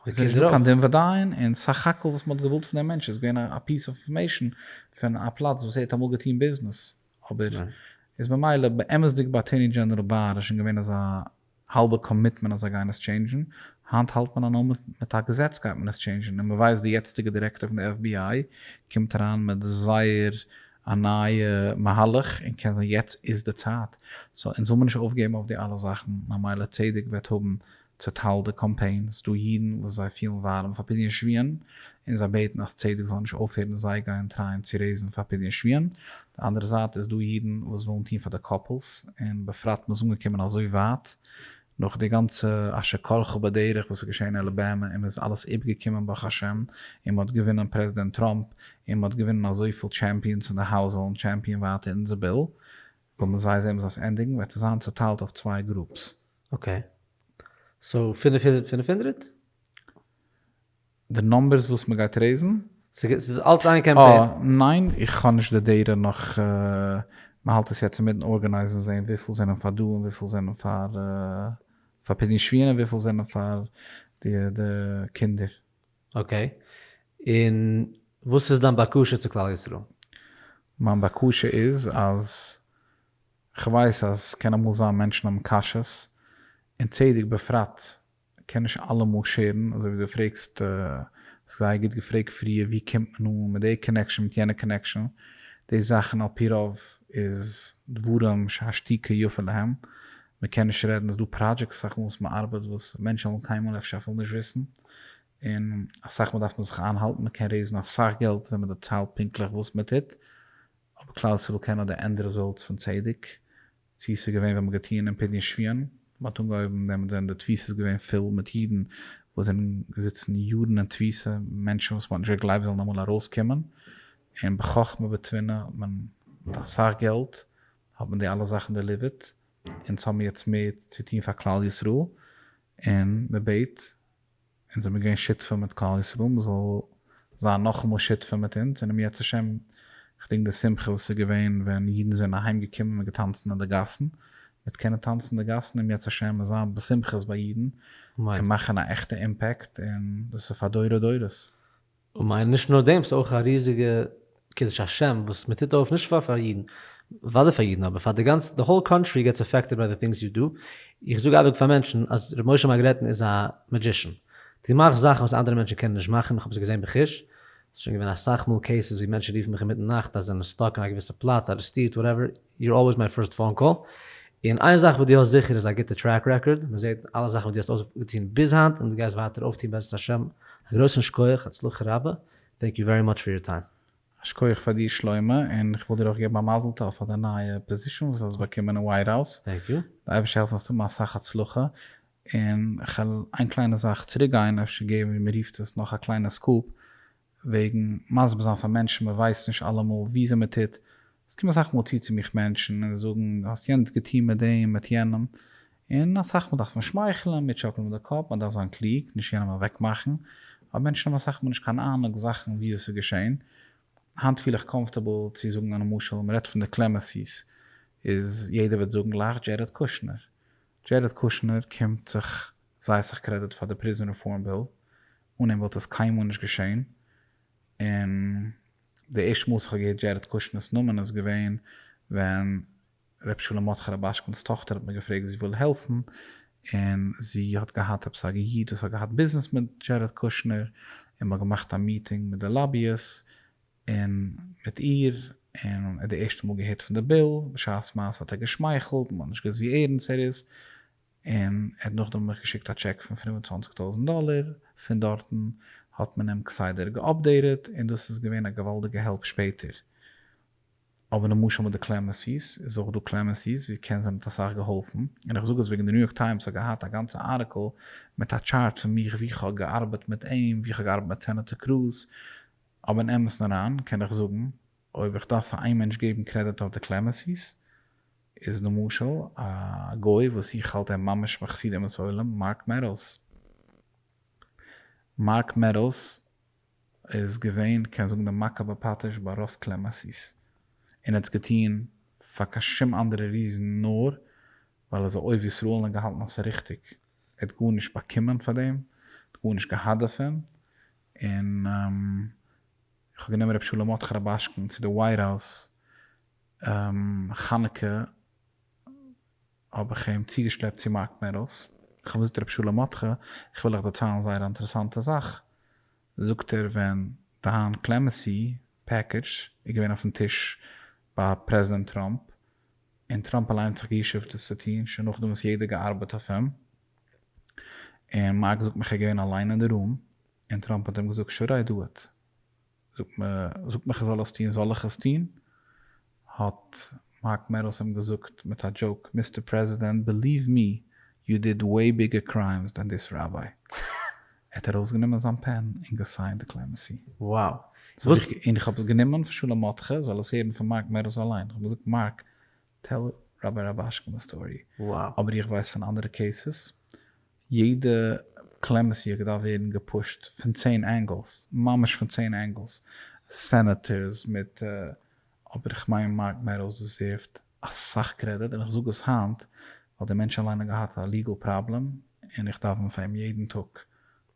איז נישט דא קיין דין ודיין און סך הכל וואס מ'האט געוואלט פון דעם מענטש איז געווען א פיס אוו אינפארמעישאן פון א פלאץ וואס ער האט אמאל געטון ביזנעס אבער איז ממילא באמת'דיג ביי אטורני דזשענעראל באר איז שוין געווען אזא האלבע קאמיטמענט אז זיי גייען עס טשעינדזשן, היינט האלט מען אז נאר מיט א געזעץ גייט מען עס טשעינדזשן און מ'ווייסט די יעצטיגע דירעקטאר פון די עף בי איי קומט אריין מיט זייער א נייע מהלך און קען זיין יעצט איז די צייט סאו אונז וויל מיר נישט אויפגעבן אויף די אלע זאכן ממילא צדק וועט האבן צעטיילט די קאמפיין, ס'דא אידן וואס זיי פילן ווארעם פאר פדיון שביון און זיי בעטן אז צדק זאל נישט אויפהערן און זיי גייען טרייען צו רעיזן פאר פדיון שביון, די אנדערע זייט איז דא אידן וואס ווילן טון פאר די קאפלס, און בפרט מ'איז אנגעקומען אזוי ווייט נאך די גאנצע אשר כלך בדרך וואס איז געשען אין אלאבאמע און מ'איז אלעס איבגעקומען ברוך השם און מ'האט געווינען פרעזידענט טראמפ און מ'האט געווינען אזויפיל טשעמפיאנס אין די האוז זאלן טשעמפיאן ווייטער אונזער ביל, וויל מען זיי זעהן וואס זיי'ס ענדיגונג וועט עס זיין צעטיילט אויף צוויי גרופס. אקעי. סאו פֿינף הונדערט פֿינף הונדערט? די נומבערס וואס מ'גייט רעיזן? ס'איז אלץ איין קעמפעין? אה ניין, איך האב נישט די דעטע נאך, מ'האלט עס יעצט אינמיטן ארגענייזן זעהן וויפיל זענען פאר דא און וויפיל זענען פאר פאר פדיון שביעין און וויפיל זענען פאר די די קינדער. אקעי. און וואס איז דיין בקשה צו כלל ישראל? מיין בקשה איז אז כ'ווייס אז ס'קען אמאל זיין מענטשן האבן קשיות, און צדק בפרט קען נישט אלעמאל שערן, אזוי ווי דו פרעגסט, האסט זייער גוט געפרעגט פריער, ווי קומט מען אן מיט די קאנעקשאן מיט יענע קאנעקשאן, די זאכן על פי רוב איז דברים שהשתיקה יפה להם, מ'קען נישט רעדן, ס'איז דא פראדזשעקטס אויף וואס מ'ארבעט וואס מענטשן וועלן קיינמאל אפשר אפילו נישט וויסן, און אסאך מאל דארף מען זיך איינהאלטן, מ'קען רעיזן אסאך געלט ווען מ'דערציילט פונקטליך וואס מ'טוט, אויב כלל ישראל קען האט די ענד רעזאלטס פון צדק, צו ס'איז געווען ווען מ'האט געטוען אין פדיון שביון, מ'האט אנגעהויבן דעמאלטס זענען די תפיסות געווען פול מיט אידן וואס זענען געזיצן יארן אין תפיסה, מענטשן וואס מ'האט נישט געגלייבט זאלן אמאל ארויס קומען, און בחכמה בתבונה מען מיט אסאך געלט האט מען די אלע זאכן דעליווערט, אונז האבן יעצט מער צו טון פאר כלל ישראל, און מ'בעט אונז זעמיר געווען שותפים מיט כלל ישראל, מען זאל זיין נאכאמאל שותפים מיט אונז און אום יעצט השם, כ'דענק די שמחה וואס איז געווען ווען אידן זענען אהיים געקומען און געטאנצן אין די גאסן, מיט קענען טאנצן אין די גאסן אום יעצט השם און זיין בשמחות ביי אידן און מאכן א עכטע אימפעקט און דאס איז פאר דורי דורות. און מיין נישט נאר דעם, ס'איז אויך א ריזיגע קידוש השם וואס מען טוט אויף נישט פאר פאר אידן, וואדער פאר אידן אבער פאר די גאנצע די האול קאנטרי געטס עפעקטעד ביי די טינגס יו דו, איך זאג אייביג פאר מענטשן אז ר' משה מארגרעטן איז א מעדזשישן, דו מאכסט זאכן וואס אנדערע מענטשן קענען נישט מאכן, איך האב עס געזען בחוש, ס'איז שוין געווען אסאך מאל קעיסעס ווי מענטשן רופן מיך אינמיטן נאכט אז זיי זענען סטאק אין א געוויסע פלאץ, ארעסטירט, וואטעווער, יור אלוועיס מיי פירסט פאון קאל, און איין זאך וואס דו האסט זיכער איז א גוטע טרעק רעקארד, מען זעט אלע זאכן וואס דו האסט אויפגעטון ביז היינט און דו גייסט ווייטער אויפטון בעזרת השם, א גרויסן שקויעך, הצלחה רבה, טענק יו ווערי מאטש פאר יור טיים. א שקויעך פאר דיר שלמה, און איך וויל דיר אויך געבן א מזל טוב פאר דיין נייע פאזישאן וואס האסט באקומען אין ווייט האוז, טענק יו. די אייבערשטער העלפן זאלסט האבן אסאך הצלחה, און כ'על איין קליינע זאך צוריק גיין, אפשר געבן ווי מ'רופט עס נאך א קליינע סקופ, וועגן מסביר זיין פאר מענטשן מען ווייסט נישט אלעמאל וויאזוי מען טוט, עס קומען אסאך מאל צו צו מיך מענטשן און זאגן האסט יענץ געטון מיט דעם מיט יענעם, און אסאך מאל דארף מען שמייכלען, מיר טשאקלען מיט די קאפ, מען דארף זיין קלוג, נישט יענעם אוועק מאכן, אבער מענטשן האבן אסאך מאל נישט קיין אהנונג זאכן וויאזוי עס איז געשען, היינט פיל איך קאמפארטעבל צו זאגן א נמשל, מען רעדט פון די קלעמעסיס, איז יעדער וועט זאגן גלייך דזשערעד קושנער, דזשערעד קושנער קומט זיך זייער סאך קרעדיט פאר די פריזאן רעפארם ביל, אן אים וואלט עס קיינמאל נישט געשען, און די ערשטע מאל וואס איך האב געהערט דזשערעט קושנער'ס נאמען איז געווען ווען ר' שלום מרדכי רובאשקינ'ס טאכטער האט מיר געפרעגט זי וויל העלפן, און זי האט געהאט עפעס א איד וואס האט געהאט ביזנעס מיט דזשערעט קושנער, און מען האט געמאכט א מיטינג מיט די לאבי'ס און מיט איר, און ער האט די ערשטע מאל געהערט פון די ביל, בשעת מעשה האט ער געשמייכלט, מען האט נישט געוואוסט ווי ערענסט ער איז, און ער האט נאכדעם מיך געשיקט א טשעק פון פֿינף און צוואַנציק טויזענט דאלער, פון דארטן האט מען אים כסדר געאפדעיטעד און דאס איז געווען א געוואלדיגע העלפ שפעטער, אבער למשל מיט די קלעמענסי'ס איז אויך דא קלעמענסי'ס ווי קען זיי האבן מיט אסאך געהאלפן, און איך זאג עס וועגן די ניו יארק טיימס האט געהאט א גאנצע ארטיקל מיט א טשארט פון מיך ווי איך האב געארבעט מיט אים ווי איך האב געארבעט מיט סענעטער קרוז, אבער אין אמת'ן אריין קען איך זאגן אויב איך דארף פאר איין מענטש געבן קרעדיט אויף די קלעמענסי'ס, איז למשל א גוי וואס איך האלט אים ממש מחסיד אומות עולם מארק מעדאלס. מארק מעדאלס איז געווען קען זאגן די מכה בפטיש ביי רוב כלי מסית און האט עס געטון פאר קיין שום אנדערע ריזען נאר ווייל ער איז א אוהב ישראל און געהאלטן אז עס איז ריכטיג ער האט גארנישט באקומען פאר דעם ער האט גארנישט געהאט דערפון און איך האב גענומען ר' שלום מרדכי רובאשקין צו די ווייט האוז חנוכה האב איך אים צוגעשלעפט צו מארק מערל'ס, איך האב אים געזאגט ר' שלום מאטכע איך וויל דיך דערציילן א זייער אינטערעסאנטע זאך, זאגט ער ווען דיין קלעמעסי פעקעדזש איז געווען אויפן טיש ביי פרעזידענט טראמפ, און טראמפ אליין האט זיך גע'ישוב'ט דאס צו טון שוין נאכדעם וואס יעדער האט געארבעט אויף אים, און מארק זאגט מיך ער איז געווען אליין אין די רום, און טראמפ האט אים געזאגט שאו רייט דא איט. זאָגט מע, זאָגט מיך כ'זאָל עס טאָן, זאָל איך עס טאָן? האָט מייק מערלס אים געזאָגט מיט אַ דזשאָוק, מיסטער פּרעזידענט, בעליוו מי, יו דיד וועי ביגער קריימס דען דיס ראַבביי. ער האָט אַרויסגענומען זיין פּען און געסיינט די קלעמעסי. וואו? זאָג איך, און כ'האָב עס גענומען פון שלום מאָטכע, זאָל עס הערן פון מייק מערלס אַליין. כ'האָב געזאָגט, מייק, טעל ראַבביי ראַבאַשקינס סטאָרי. וואו? אָבער איך ווייס פון אַנדערע קעיסעס, יעדע קלעמעסיע געדארפט ווערן געפושט פון צען ענגעלס, ממש פון צען ענגעלס, סענעטערס מיט אבער איך מיין מארק מעדאוס דעזערווט אסאך קרעדיט און איך זאג עס היינט ווייל דער מענטש אליין האט געהאט א ליגעל פראבלעם און איך דאווען פאר אים יעדן טאג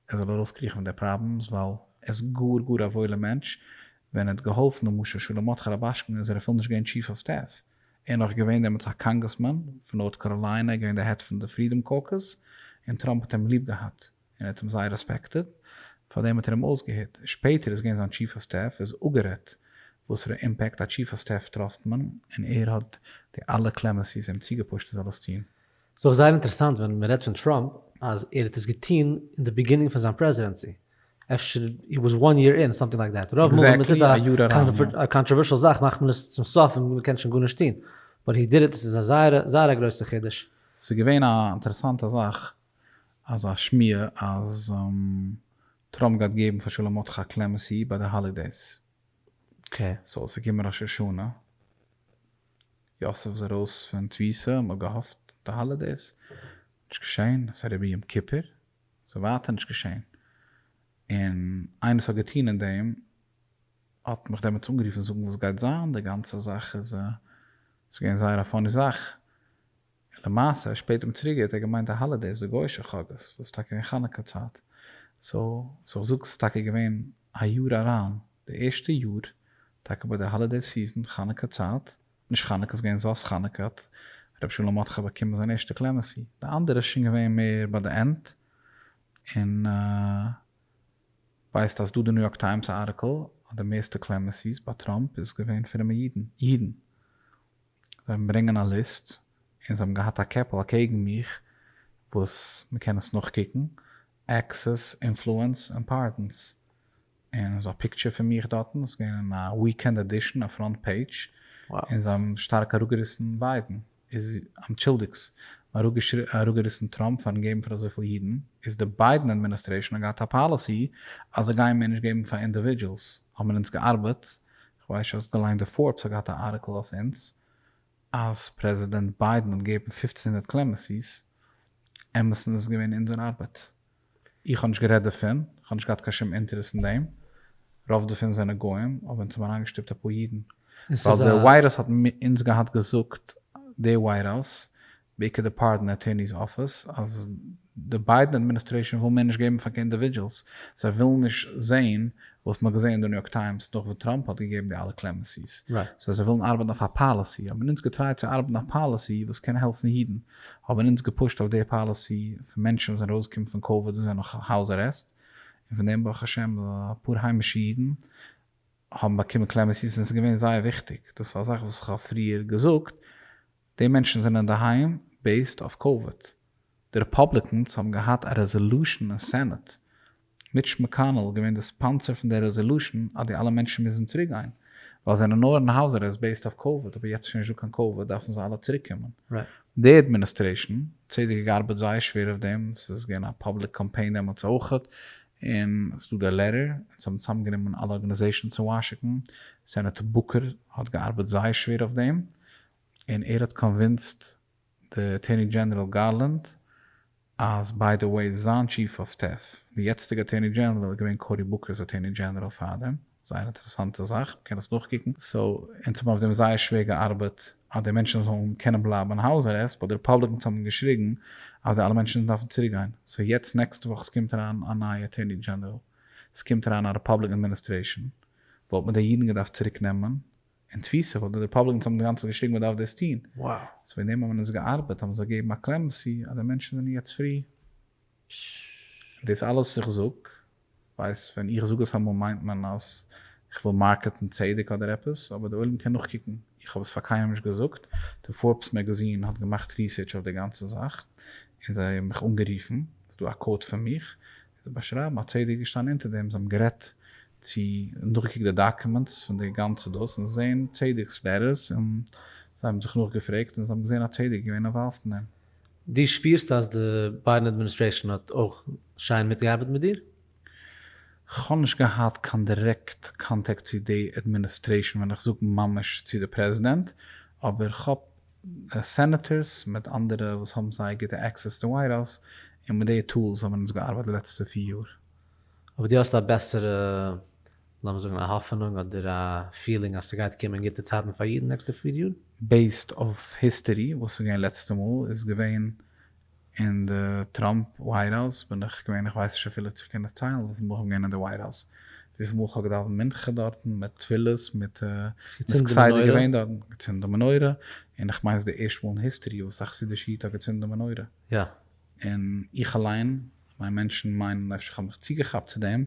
ער זאל ארויסקריכן פון די פראבלעמס ווייל ער איז גאר גאר א וואוילער מענטש ווען ער האט געהאלפן למשל שלום מרדכי רובאשקין איז ער אפילו נישט געווען טשיף אוו סטעף און נאך געווען דעמאלטס א קאנגרעסמאן פון נארט קאראליינע, ער איז געווען די העד פון די פרידאם קאוקוס, און טראמפ האט אים ליב געהאט, און ער האט אים זייער רעספעקטעד, פארדעם האט ער אים אויסגעהערט, שפעטער איז געווען זיין טשיף אוו סטעף, איז אפגערעדט וואסערע אימפעקט א טשיף אוו סטעף טראפט מען, און ער האט די אלע קלעמעסיס אים צוגעפושט ער זאל עס טון. ס'איז אויך זייער אינטערעסאנט ווען מ'רעדט פון טראמפ אז ער האט עס געטון אין די ביגינינג פון זיין פרעזידענסי, אפשר הי וואס וואן יער אין, סאמטינג לייק דעט, רוב מאל ווען מ'טוט א קאנטראווערשעל זאך מאכט מען עס צום סוף און מ'קען שוין גארנישט טון, באט הי דיד איט, עס איז א זייער זייער א גרויסע חידוש. ס'איז געווען א אינטערעסאנטע זאך, אזא שמועה אז טראמפ גייט געבן פאר שלא מטכא קלעמעסי ביי די האלידעיס, סאו ס'איז געקומען ראש השנה, יוסף איז ארויס פון תפיסה, מען האט געהאפט אויף די האלידעיס, נישט געשען, עס איז אריבער יום כיפור, עס איז ווייטער נישט געשען, און איינער וואס האט געטון אין דעם האט מיך דעמאלטס אנגערופן זאגן וואס גייט זיין, די גאנצע זאך איז, ס'איז געווען זייער א פאני זאך, און למעשה שפעט אום צוריק געהערט ער געמיינט די האלידעיס די גוישע חגאות וואס איז טאקע געווען חנוכה צייט סא סא איך זאג ס'איז טאקע געווען א יאר אריין די ערשטע יאר טאקע ביי די האלידעי סיזען חנוכה צייט נישט חנוכה ס'געווען זאת חנוכה האט ר' שלום מרדכי באקומען זיין ערשטע קלעמעסי די אנדערע איז שוין געווען מער ביי די ענד און ווייסט אז דא די ניו יארק טיימס ארטיקל אז די מערסטע קלעמעסיס ביי טראמפ איז געווען פרומע אידן אידן. זיי האבן ברענגען א ליסט און זיי האבן געהאט א קעפל אקעגן מיך וואס מ'קען עס נאכקוקן, עקסעס, אינפלוענס, אימפארטענס, און ס'איז א פיקטשער פון מיך דארטן, ס'איז געווען אין א וויקענד עדישן, א פראנט פעידזש, און זיי האבן שטארק אראפגעריסן ביידן, איז אנטשולדיגטס, מ'האט אראפגעריסן טראמפ פארן געבן פאר אזויפיל אידן, איז די ביידן אדמיניסטרעישאן האט געהאט א פאליסי אז זיי גייען מער נישט געבן פאר אינדיווידזשעלס, האט מען אונז געארבעט כ'ווייס נישט האסט געליינט די פארבס האט געהאט א ארטיקל אויף אונז אז פרעזידענט ביידען האט געבן פֿופֿצן הונדערט קלעמעסיס, אמת און עס איז געווען אונזער ארבעט. איך האב נישט גערעדט דערפון, כ'האב נישט געהאט קיין שום אינטערעס אין דעם, רוב דערפון זענען גוים, אבער אונז האבן אריינגעשטופט אפאר אידן, ווייל די וויירוס האט אונז געהאט געזאגט די וויירוס בעיקר די פארדען אטוירני'ס אפיס, אז די ביידען אדמיניסטרעישאן וויל מער נישט געבן פאר קיין אינדיווידזשעלס, זיי ווילן נישט זעהן וואס מ'האט געזעהן אין די ניו יארק טיימס נאך וואס טראמפ האט געגעבן די אלע קלעמענסי'ס, סאו זיי ווילן ארבעטן אויף א פאליסי, האבן אונז געטרייט צו ארבעטן א פאליסי וואס קען העלפן אידן, האבן אונז געפושט אויף די פאליסי פון מענטשן וואס זענען ארויסגעקומען פון קאוויד און זענען נאך האוז ארעסט, און פון דעם ברוך השם אפאר היימישע אידן האבן באקומען קלעמענסי'ס און ס'איז געווען זייער וויכטיג, דאס איז א זאך וואס איך האב פריער געזאגט, די מענטשן זענען אינדערהיים בעיסד אויף קאוויד. די רעפאבליקענס האבן געהאט א רעזעלושען אין סענעט, מיטש מעקאנעל געווען די ספאנסער פון די רעזעלושען אז די אלע מענטשן מוזן צוריק גיין, ווייל זענען נאר אין הויז ארעסט בעיסד אויף קאוויד אבער יעצט איז שוין נישטא קיין קאוויד דארפן זיי אלע צוריק קומען. די אדמיניסטרעישן צד האט געארבעט זייער שווער אויף דעם, סאיז געווען א פאבליק קאמפיין דעמאלטס אויכעט, און סדא די לעטער, און זיי האבן צוזאם גענומען אלע ארגענעזעישנס אין וואשיקן, סענעטער בוקער האט געארבעט זייער שווער אויף דעם, און ער האט קאנווינסט די אטורני דזשענעראל גארלענד אז ביי די וועי זיין טשיף אוו סטעף די יעצטיגע אטורני דזשענעראל איז געווען קארי בוקערס אטורני דזשענעראל פאר דעם, זייער אינטערעסאנטע זאך מ'קען דאס נאכקוקן, סאו אונז האבן אויף דעם זייער שווער געארבעט אז די מענטשן זאלן קענען בלייבן אין האוז ארעסט באט די רעפאבליקענס האבן געשריגן אז די אלע מענטשן דארפן צוריק גיין, סאו יעצט נעקסטע וואך סקומט אריין א נייע אטורני דזשענעראל סקומט אריין א רעפאבליקען אדמיניסטרעישאן וואלט מען די אידן געדארפט צוריק נעמען, אין תפיסה ווייל די רעפאבליקענס האבן אינגאנצן געשריגן מען דארף דאס טוהן, סאו וועגן דעם האבן עס געארבעט האבן זיי געגעבן א קלעמענסי אז די מענטשן זענען יעצט פרי. דאס אלעס איך זאג, ווייס ווען איך זאג עס אמאל מיינט מען אז איך וויל מארקעטן צדק אדער עפעס, אבער די עולם קען נאכקוקן, איך האב עס פאר קיינעם נישט געזאגט, די פארבס מעגעזין האט געמאכט ריסערטש אויף די גאנצע זאך און זיי האבן מיך אנגערופן, ס'דא א קאוד פון מיך, זיי באשרייבן א צדיק געשטאנען אונטער דעם, זיי האבן גערעדט צו און דורכגעקוקט די דאקומענטס פון די גאנצע דאס און זעהן צדיק'ס לעטערס און זיי האבן זיך נאכגעפרעגט און זיי האבן געזעהן א צדיק איז געווען אינוואלווד אין דעם. דו שפירסט אז די ביידן אדמיניסטרעישאן האט אויך שיין מיטגעארבעט מיט דיר? כ'האב נישט געהאט קיין דירעקט קאנטעקט צו די אדמיניסטרעישאן ווען איך זאג ממש צו די פרעזידענט, אבער כ'האב סענעטערס מיט אנדערע וואס האבן זייער גוטע עקסעס צום ווייט האוז און מיט די טולס האבן אונז געארבייט די לעצטע פֿיר יאר. אויב דו האסט א בעסערע, לאמיר זאגן, א האפענונג אדער א פילינג אז ס'גייט קומען גוטע צייטן פאר אידן נעקסטע פֿיר יאר? בעיסד אויף היסטערי וואס איז געווען לעצטע מאל איז געווען אין די טראמפ ווייט האוז בין איך געווען, איך ווייס נישט אפילו צו איך קען עס טיילן, וויפיל מאל איך בין געווען אין די ווייט האוז, וויפיל מאל איך האב געדאווענט מנחה דארטן מיט תפילות מיט מ'איז כסדר געווען דארטן, געצינדן די מנורה, און איך מיין ס'איז די ערשטע מאל אין היסטערי וואס א חסידישע איד האט געצינדן די מנורה, און איך אליין, כ'מיין מענטשן מיינען אפשר כ'האב מיך צוגעכאפט צו דעם,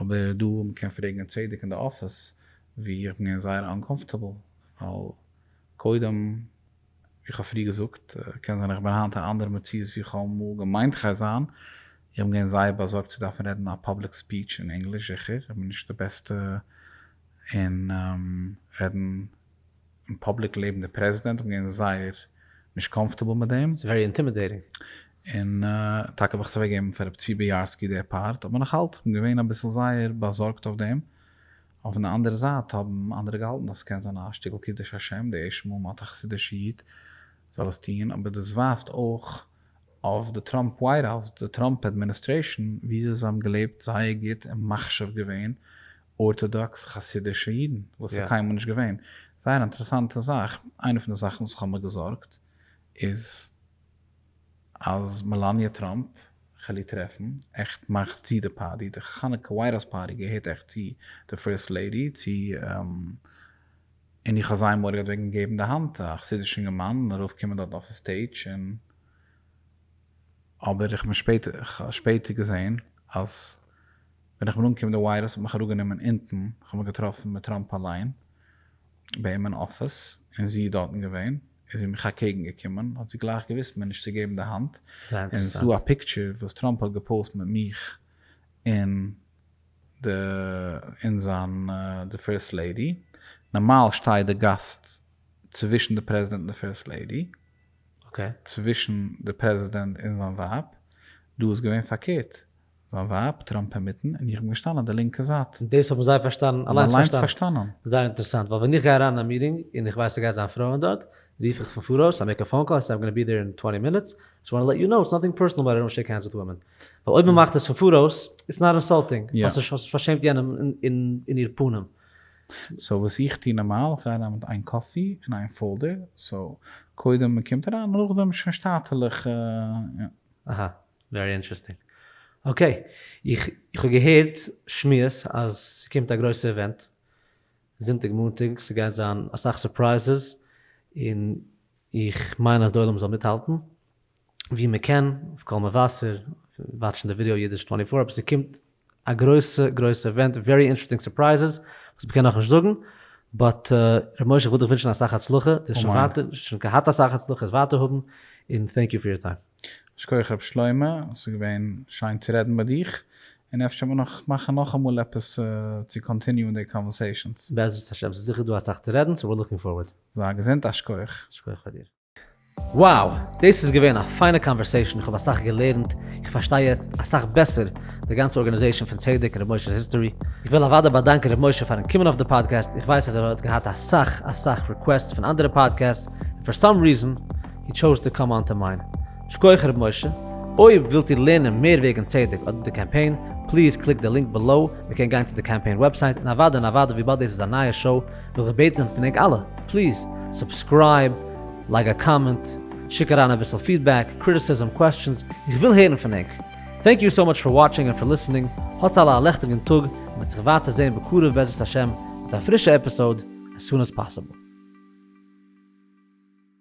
אבער דא מ'קען פרעגן אין צדק אין די אפיס ווי איך בין געווען זייער אנקאמפארטעבל, ווייל קודם. ווי כ'האב פריער געזאגט, קען זיין איך בין היינט א אנדערע מציאות ווי כ'האב אמאל געמיינט כ'גיי זיין, איך בין געווען זייער באזארגט צו דארפן רעדן א פאבליק ספיטש אין ענגליש, זיכער איך בין נישט די בעסטע אין רעדן אין פאבליק לעבן די פרעזידענט, איך בין געווען זייער נישט קאמפארטעבל מיט דעם. ס'איז ווערי אינטימידעטינג. און טאקע האב איך עס אוועקגעגעבן פאר רבי צבי ביארסקי די פארט, אבער נאכאלץ איך בין געווען אביסל זייער באזארגט אויף דעם, אויף די אנדערע זייט האבן אנדערע געהאלטן אז ס'קען זיין א שטיקל קידוש השם די ערשטע מאל מ'האט א חסידישע איד זאל עס טוהן, אבער דאס ווייזט אויך אויף די טראמפ ווייט האוז, די טראמפ אדמיניסטרעישאן, וויאזוי זיי האבן געלעבט זייער גוט און מחשיב געווען ארטאדאקס חסידישע אידן וואס איז קיינמאל נישט געווען. זייער אינטערעסאנטע זאך, איינע פון די זאכן וואס איך האב מיר געזארגט איז. אז מעלאניע טראמפ, כעלי טרעפן, עכט מאכט צו די פארטי, די חנוכה ווייט האוז פארטי געהערט עכט צו די פירסט לעידי, צו און איך האב זייער מורא געהאט וועגן געבן די האנט א חסידיש אינגערמאן און ארויף קומען דארט אויפן סטעידש און אבער איך בין שפעטער געזעהן אז ווען איך בין אנגעקומען די ווייט האוז האט מיך אראפ גענומען אונטן איך האב מיך געטראפן מיט טראמפ אליין ביי אים אין אפיס און זי איז דארטן געווען. איז זי מיך אקעגן געקומען האט זי גלייך געוויסט מיר נישט צו געבן די האנט, און ס'דא א פיקטשער וואס טראמפ האט געפאוסט מיט מיך און די און זיין די פירסט לעידי, נארמאל שטייט די גאסט צווישן די פרעזידענט און די פירסט לעידי, צווישן די פרעזידענט און זיין ווייב, דא איז געווען פארקערט, זיין ווייב טראמפ אינמיטן און איך בין געשטאנען אויף די לינקע זייט. און דאס האבן זיי פארשטאנען און אליינס פארשטאנען. זייער אינטערעסאנט ווייל ווען איך גיי אריין אין א מיטינג און איך ווייס ס'גייט זיין פרויען דארט רוף איך פון פאראויס איי מעיק א פאון קאל איי סעי איים גאנא בי דער אין טווענטי מינוטס זשאסט וואנט טו לעט יו נאו איטס נאטינג פערסאנעל באט איי דאנט שעיק הענדס וויט וואמען ווייל אויב מ'מאכט עס פון פאראויס איטס נאט אינסאלטינג ווייל האסט פארשעמט יענעם אין איר פנים. סאו וואס איך טו נארמאל איך גיי אריין מיט איין קאפי און איין פאלדער סאו קודם מ'קומט אריין נאכדעם שוין שטאטעלעך. אהא. ווערי אינטערעסטינג. אקעי, איך האב געהערט שמועות אז ס'קומט א גרויסע איווענט זונטאג מאנטאג, ס'גייט זיין אסאך סורפרייזעס, און איך מיין אז די עולם זאל מיטהאלטן ווי מ'קען, אויף קול מבשר, וואטשן די ווידעא אידיש טווענטי פאר, אבער ס'קומט א גרויסע גרויסע עווענט, ווערי אינטערעסטינג סורפרייזעס, וואס מ'קען נאך נישט זאגן, באט ר' משה כ'וויל דיך ווינטשן אסאך הצלחה, די האסט שוין אמן. ווייטער שוין געהאט אסאך הצלחה, עס ווייטער האבן, און טענק יו פאר יור טיים. שכוח רב שלמה, עס איז געווען שיין צו רעדן מיט דיך, און אפשר וועל נאך מאכן נאכאמאל עפעס צו קאנטיניוען די קאנווערסעישאנס. בעזרת השם, ס'איז זיכער דא אסאך צו רעדן, סאו וויר לוקינג פארווערד. זיי געזונט, א שכוח. שכוח פאר דיר. Wow! דאס איז געווען א פיינע קאנווערסעישאן, איך האב אסאך געלערנט, איך פארשטיי יעצט אסאך בעסער די גאנצע ארגאניזעישאן פון צדק און ר' משה'ס היסטארי. איך וויל אוודאי באדאנקען ר' משה פארן קומען אויף די פאדקעסט, איך ווייס אז ער האט געהאט אסאך אסאך ריקוועסטס פון אנדערע פאדקעסטס, און פאר סאם ריזען הי טשאוז טו קאם אן טו מיין. שכוח ר' משה. אויב ווילט איר לערנען מער וועגן צדק אדער די קאמפיין, פליז קליק די לינק בעלאו, מען קען גיין צו די קאמפיין וועבסייט, און אוודאי און אוודאי וויבאלד דאס איז א נייע שאו, וויל איך בעטן פון ענק אלע, פליז סובסקרייב, לייג א קאמענט, שיק אריין אביסל פידבעק, קריטיסיזם, קוועסטשענס, איך וויל הערן פון ענק. טענק יו סאו מאטש פאר וואטשינג און פאר ליסענינג, האטס אלע א לעכטיגן טאג, מען וועט זיך ווייטער זעהן בקרוב בעזרת השם מיט א פרישע עפיסאוד as soon as possible.